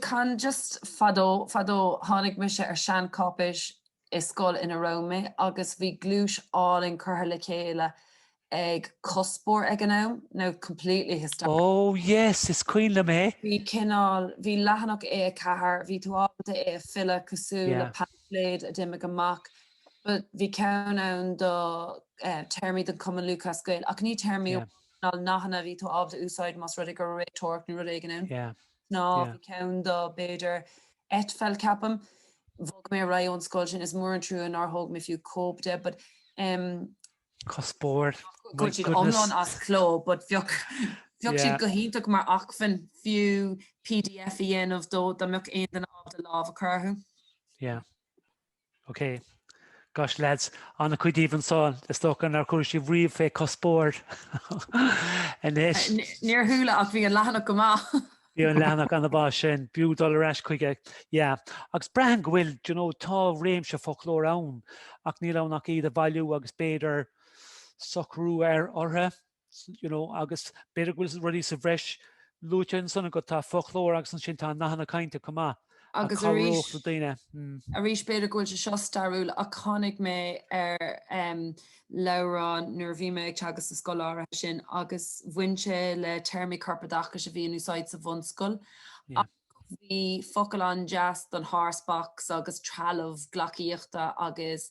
Can just fadó, fadó, tháinig mise ar sheancháipéis i scoil ina raibh mé agus bhí gluais álainn curtha le chéile ag Cospóir ag an am, nó completely historical. Ó, yes, is cuimhin liom é. Bhí cineál, bhí leathanach A a ceathair, bhí tú ábalta é a filleadh cosúil le paimfléad a d'imigh amach but bhí ceann ann do téarmaí don Chumann Lúthchleas Gael ach ní téarmaí amháin, ná nathanna a bhí tú ábalta úsáid más rud é gur réiteoireacht nó rud éigin. Nó bhí ceann do, b'fhéidir, eitpheil, ceapaim. Bhog mé ar aghaidh ón scoil sin, is mór an trua nár thóg mé fiú cóip de, but em. Cospóir, my goodness. Tá siad iomlán as cló, but bheadh siad go hiontach mar acmhainn fiú pdf a dhéanamh dó dá mbeadh aon duine ábalta lámh a chur orthu. Yeah. OK. Gosh, lads, an-chuid díbh ansan, is dócha nár chuir sibh riamh fé chuspóirt anois. Níor chuala ach bhí an leathanach go maith. Bhí an leathanach ana-mhaith ansin, b'fhiú dul ar ais chuige. Yeah. Agus braitheann go bhfuil, d'you know, tá réimse foclóir ann ach níl ann ach iad a bhailiú agus b'fhéidir socrú ar orthu. you know, agus b'fhéidir go bhfuil rudaí sa bhreis luaite ansan agat, tá foclóir agus ansin tá nathanna cainte chomh maith a chabhródh le daoine. Hmm. Arís b'fhéidir go bhfuil sé seo stairiúil ach tháinig mé ar leabhrán nuair a bhí mé ag teagasc sa scoil áirithe sin agus bhain sé le téarmaí corpoideachais a bhí in úsáid sa bhunscoil. Bhí focail an-deas don horse box agus trealamh gleacaíochta agus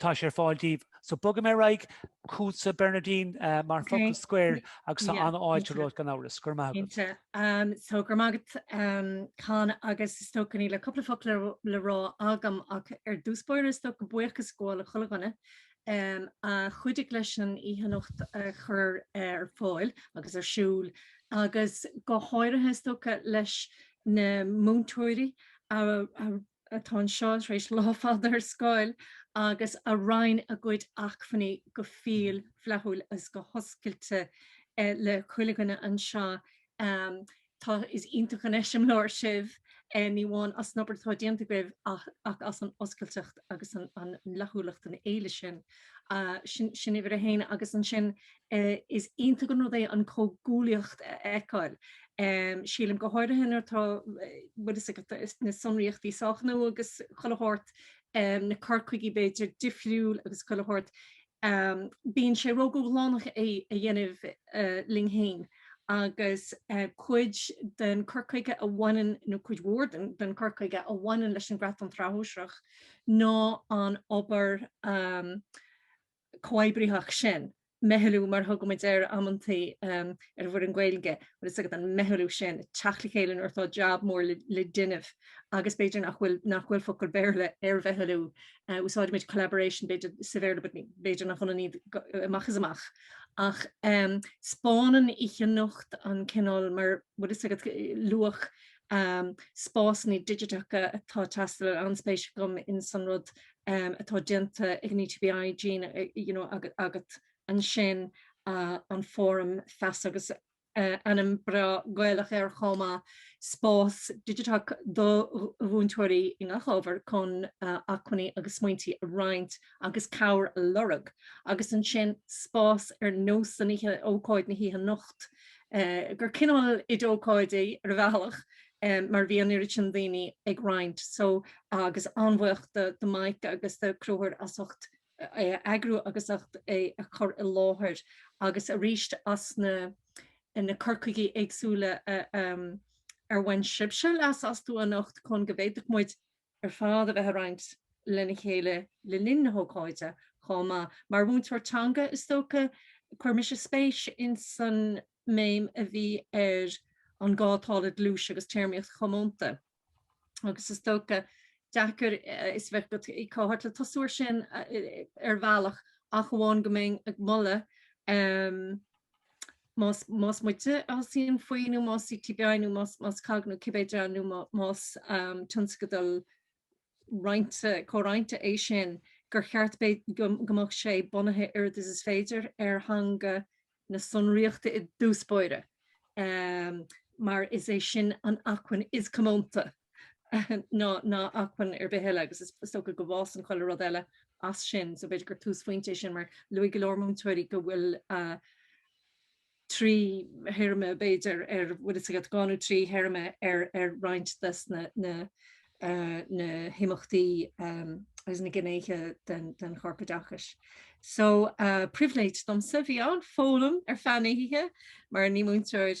tá sé ar fáil daoibh. So bogfaidh mé ar aghaidh, chugatsa Bernardine mar focal scoir agus tá an-fháilte romhat gan amhras. Go raibh maith agat. Cinnte. So go raibh maith agat Con agus is dócha níl ach cúpla focal le rá agam ach ar dtús báire is dócha buíochas a ghabháil le chuile dhuine a chuidigh leis an oíche anocht a chur ar fáil agus ar siúl agus go háirithe is dócha leis na múinteoirí a atá anseo tar éis lá fada ar scoil agus a roinn a gcuid acmhainní go fial flaithiúil agus go hoscailte le chuile dhuine anseo. Tá, is iontach an eiseamláir sibh, ní amháin as an obair atá déanta agaibh ach as an oscailteacht agus an fhlaithiúlacht, an fhéile sin. Sin uimhir a haon agus ansin Is iontach an rud é an chomhghuaillíocht a fheiceáil, sílim, go háirithe nuair atá na sonraíochtaí sách nua agus chuile shórt, na cur chuigí, b'fhéidir, difriúil agus chuile shórt. Bíonn sé ródhúshlánach é a dhéanamh linn féin agus cuid den chur chuige a bhaineann, nó cuid mhór den chur chuige a bhaineann leis an gcreat don tsraith shóisearach ná an obair, chomhoibritheach sin, meithlú mar a thugann muid air amantaí ar an bhfoireann Gaeilge, bhfuil fhios agat, an meithlú sin, teacht le chéile nuair atá jab mór le déanamh agus b'fhéidir nach bhfuil, nach bhfuil focal Béarla ar mheithlú, úsáidimid collaboration b'fhéidir sa Bhéarla but b'fhéidir nach ionann iad amach is amach ach 'speánann oíche anocht an cineál mar, bhfuil fhios agat, luach spásanna digiteacha atá ag teastáil, an-spéis agam in san rud atá déanta ag an ETBI, Jean, you know, agat ansin, an fóram feasa agus ainm breá Gaelach air chomh maith, spás digiteach do mhúinteoirí i ngach ábhar chun acmhainní agus smaointe a roinnt agus cabhair a lorg, agus ansin spás ar nós na hoíche ócáid na hoíche anocht, gur cineál oid ócáidí ar a bhealach, em mar bhí an oiread sin daoine ag roinnt so agus an-bhuíoch do do Mike agus do Conchúr as ucht é a eagrú agus as ucht é a chur i láthair agus arís as na eh na cur chuigí éagsúla a em ar bhain sibhse leas astu anocht chun go bhféadfadh muid ar fad a bheith ag roinnt lena chéile le linn na hócáide chomh maith. Mar mhúinteoir teanga, is dócha, chuir mise spéis ins an mbéim a bhí ar an gá atá le gluais agus téarmaíocht chomónta agus is dócha, deacair fios a bheith agat cá háit le tosú air sin ar bhealach ach amháin go mbeinn ag moladh más, más muide a shuíonn faoi nó más ETBI nó más, más COGG nó cibé dream nó más tionscadal roinnte, comhroinnte é sin, gur cheart go mbeadh sé bunaithe oiread is is féidir ar theanga na sonraíochta i dtús báire mar is é sin an acmhainn is comónta ná ná acmhainn ar bith eile agus is dócha go bhfásann chuile rud eile as sin so b'fhéidir gur túsphointe é sin mar luaigh go leor múinteoirí go bhfuil trí théarma b'fhéidir ar an bhfuil fhios agat dhá nó trí théarma ar ar roinnt des na na na himeachtaí agus na gnéithe den den chorpoideachas so pribhléid domsa bhí ann ag foghlaim ar feadh na hoíche mar ní múinteoir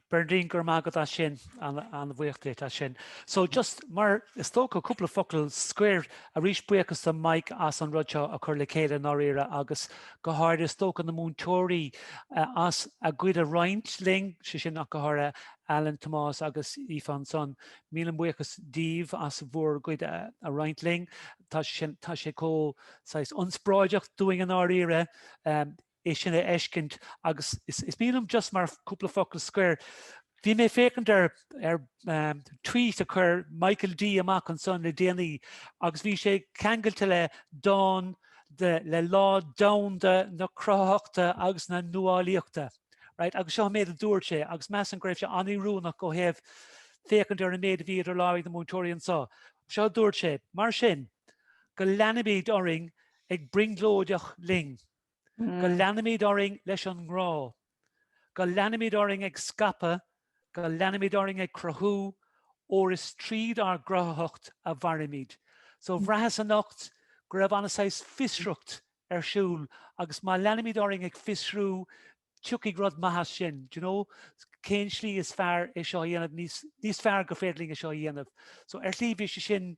Bernadine, Go raibh maith agat as sin, an-bhuíoch díot as sin. So just mar is dócha, cúpla focal scoir. Arís, buíochas do Mike as an rud seo a chur le chéile i ndáiríre agus go háirithe is dócha na múinteoirí as a gcuid a roinnt linn, sé sin ach go háirithe Alan, Tomás agus Aoife ansan. Míle buíochas daoibh as bhur gcuid a roinnt linn. Tá tá sé chomh, saghas, ionspráideach dúinn i ndáiríre. é sin a fheiscint agus is mian liom just mar cúpla focal scoir, bhí mé ag féachaint ar tweet a chuir Michael D amach ansan le déanaí agus bhí sé ceangailte le dán le Lá Domhanda na Cruthaitheachta agus na Nuálaíochta, right, agus seo an méid a dúirt sé agus measaim go raibh sé an-oiriúnach ó thaobh féachaint ar an méid a bhí idir lámha ag na múinteoirí anso. Seo a dúirt sé, Mar sin, go leanaimid orainn ag brionglóideach linn. Go leanaimid orainn leis an ngrá. Go leanaimid orainn ag ceapadh, go leanaimid orainn ag cruthú, óir is tríd ár gcruthaitheacht a mhairimid. So bhraitheas anocht go raibh an-saghas fiosracht ar siúl agus má leanaimid orainn ag fiosrú, tiocfaidh rud maith as sin, do you know? Cén tslí is fearr é seo a dhéanamh níos fearr gur féidir linn é seo a dhéanamh? So ar shlí bhí sé sin,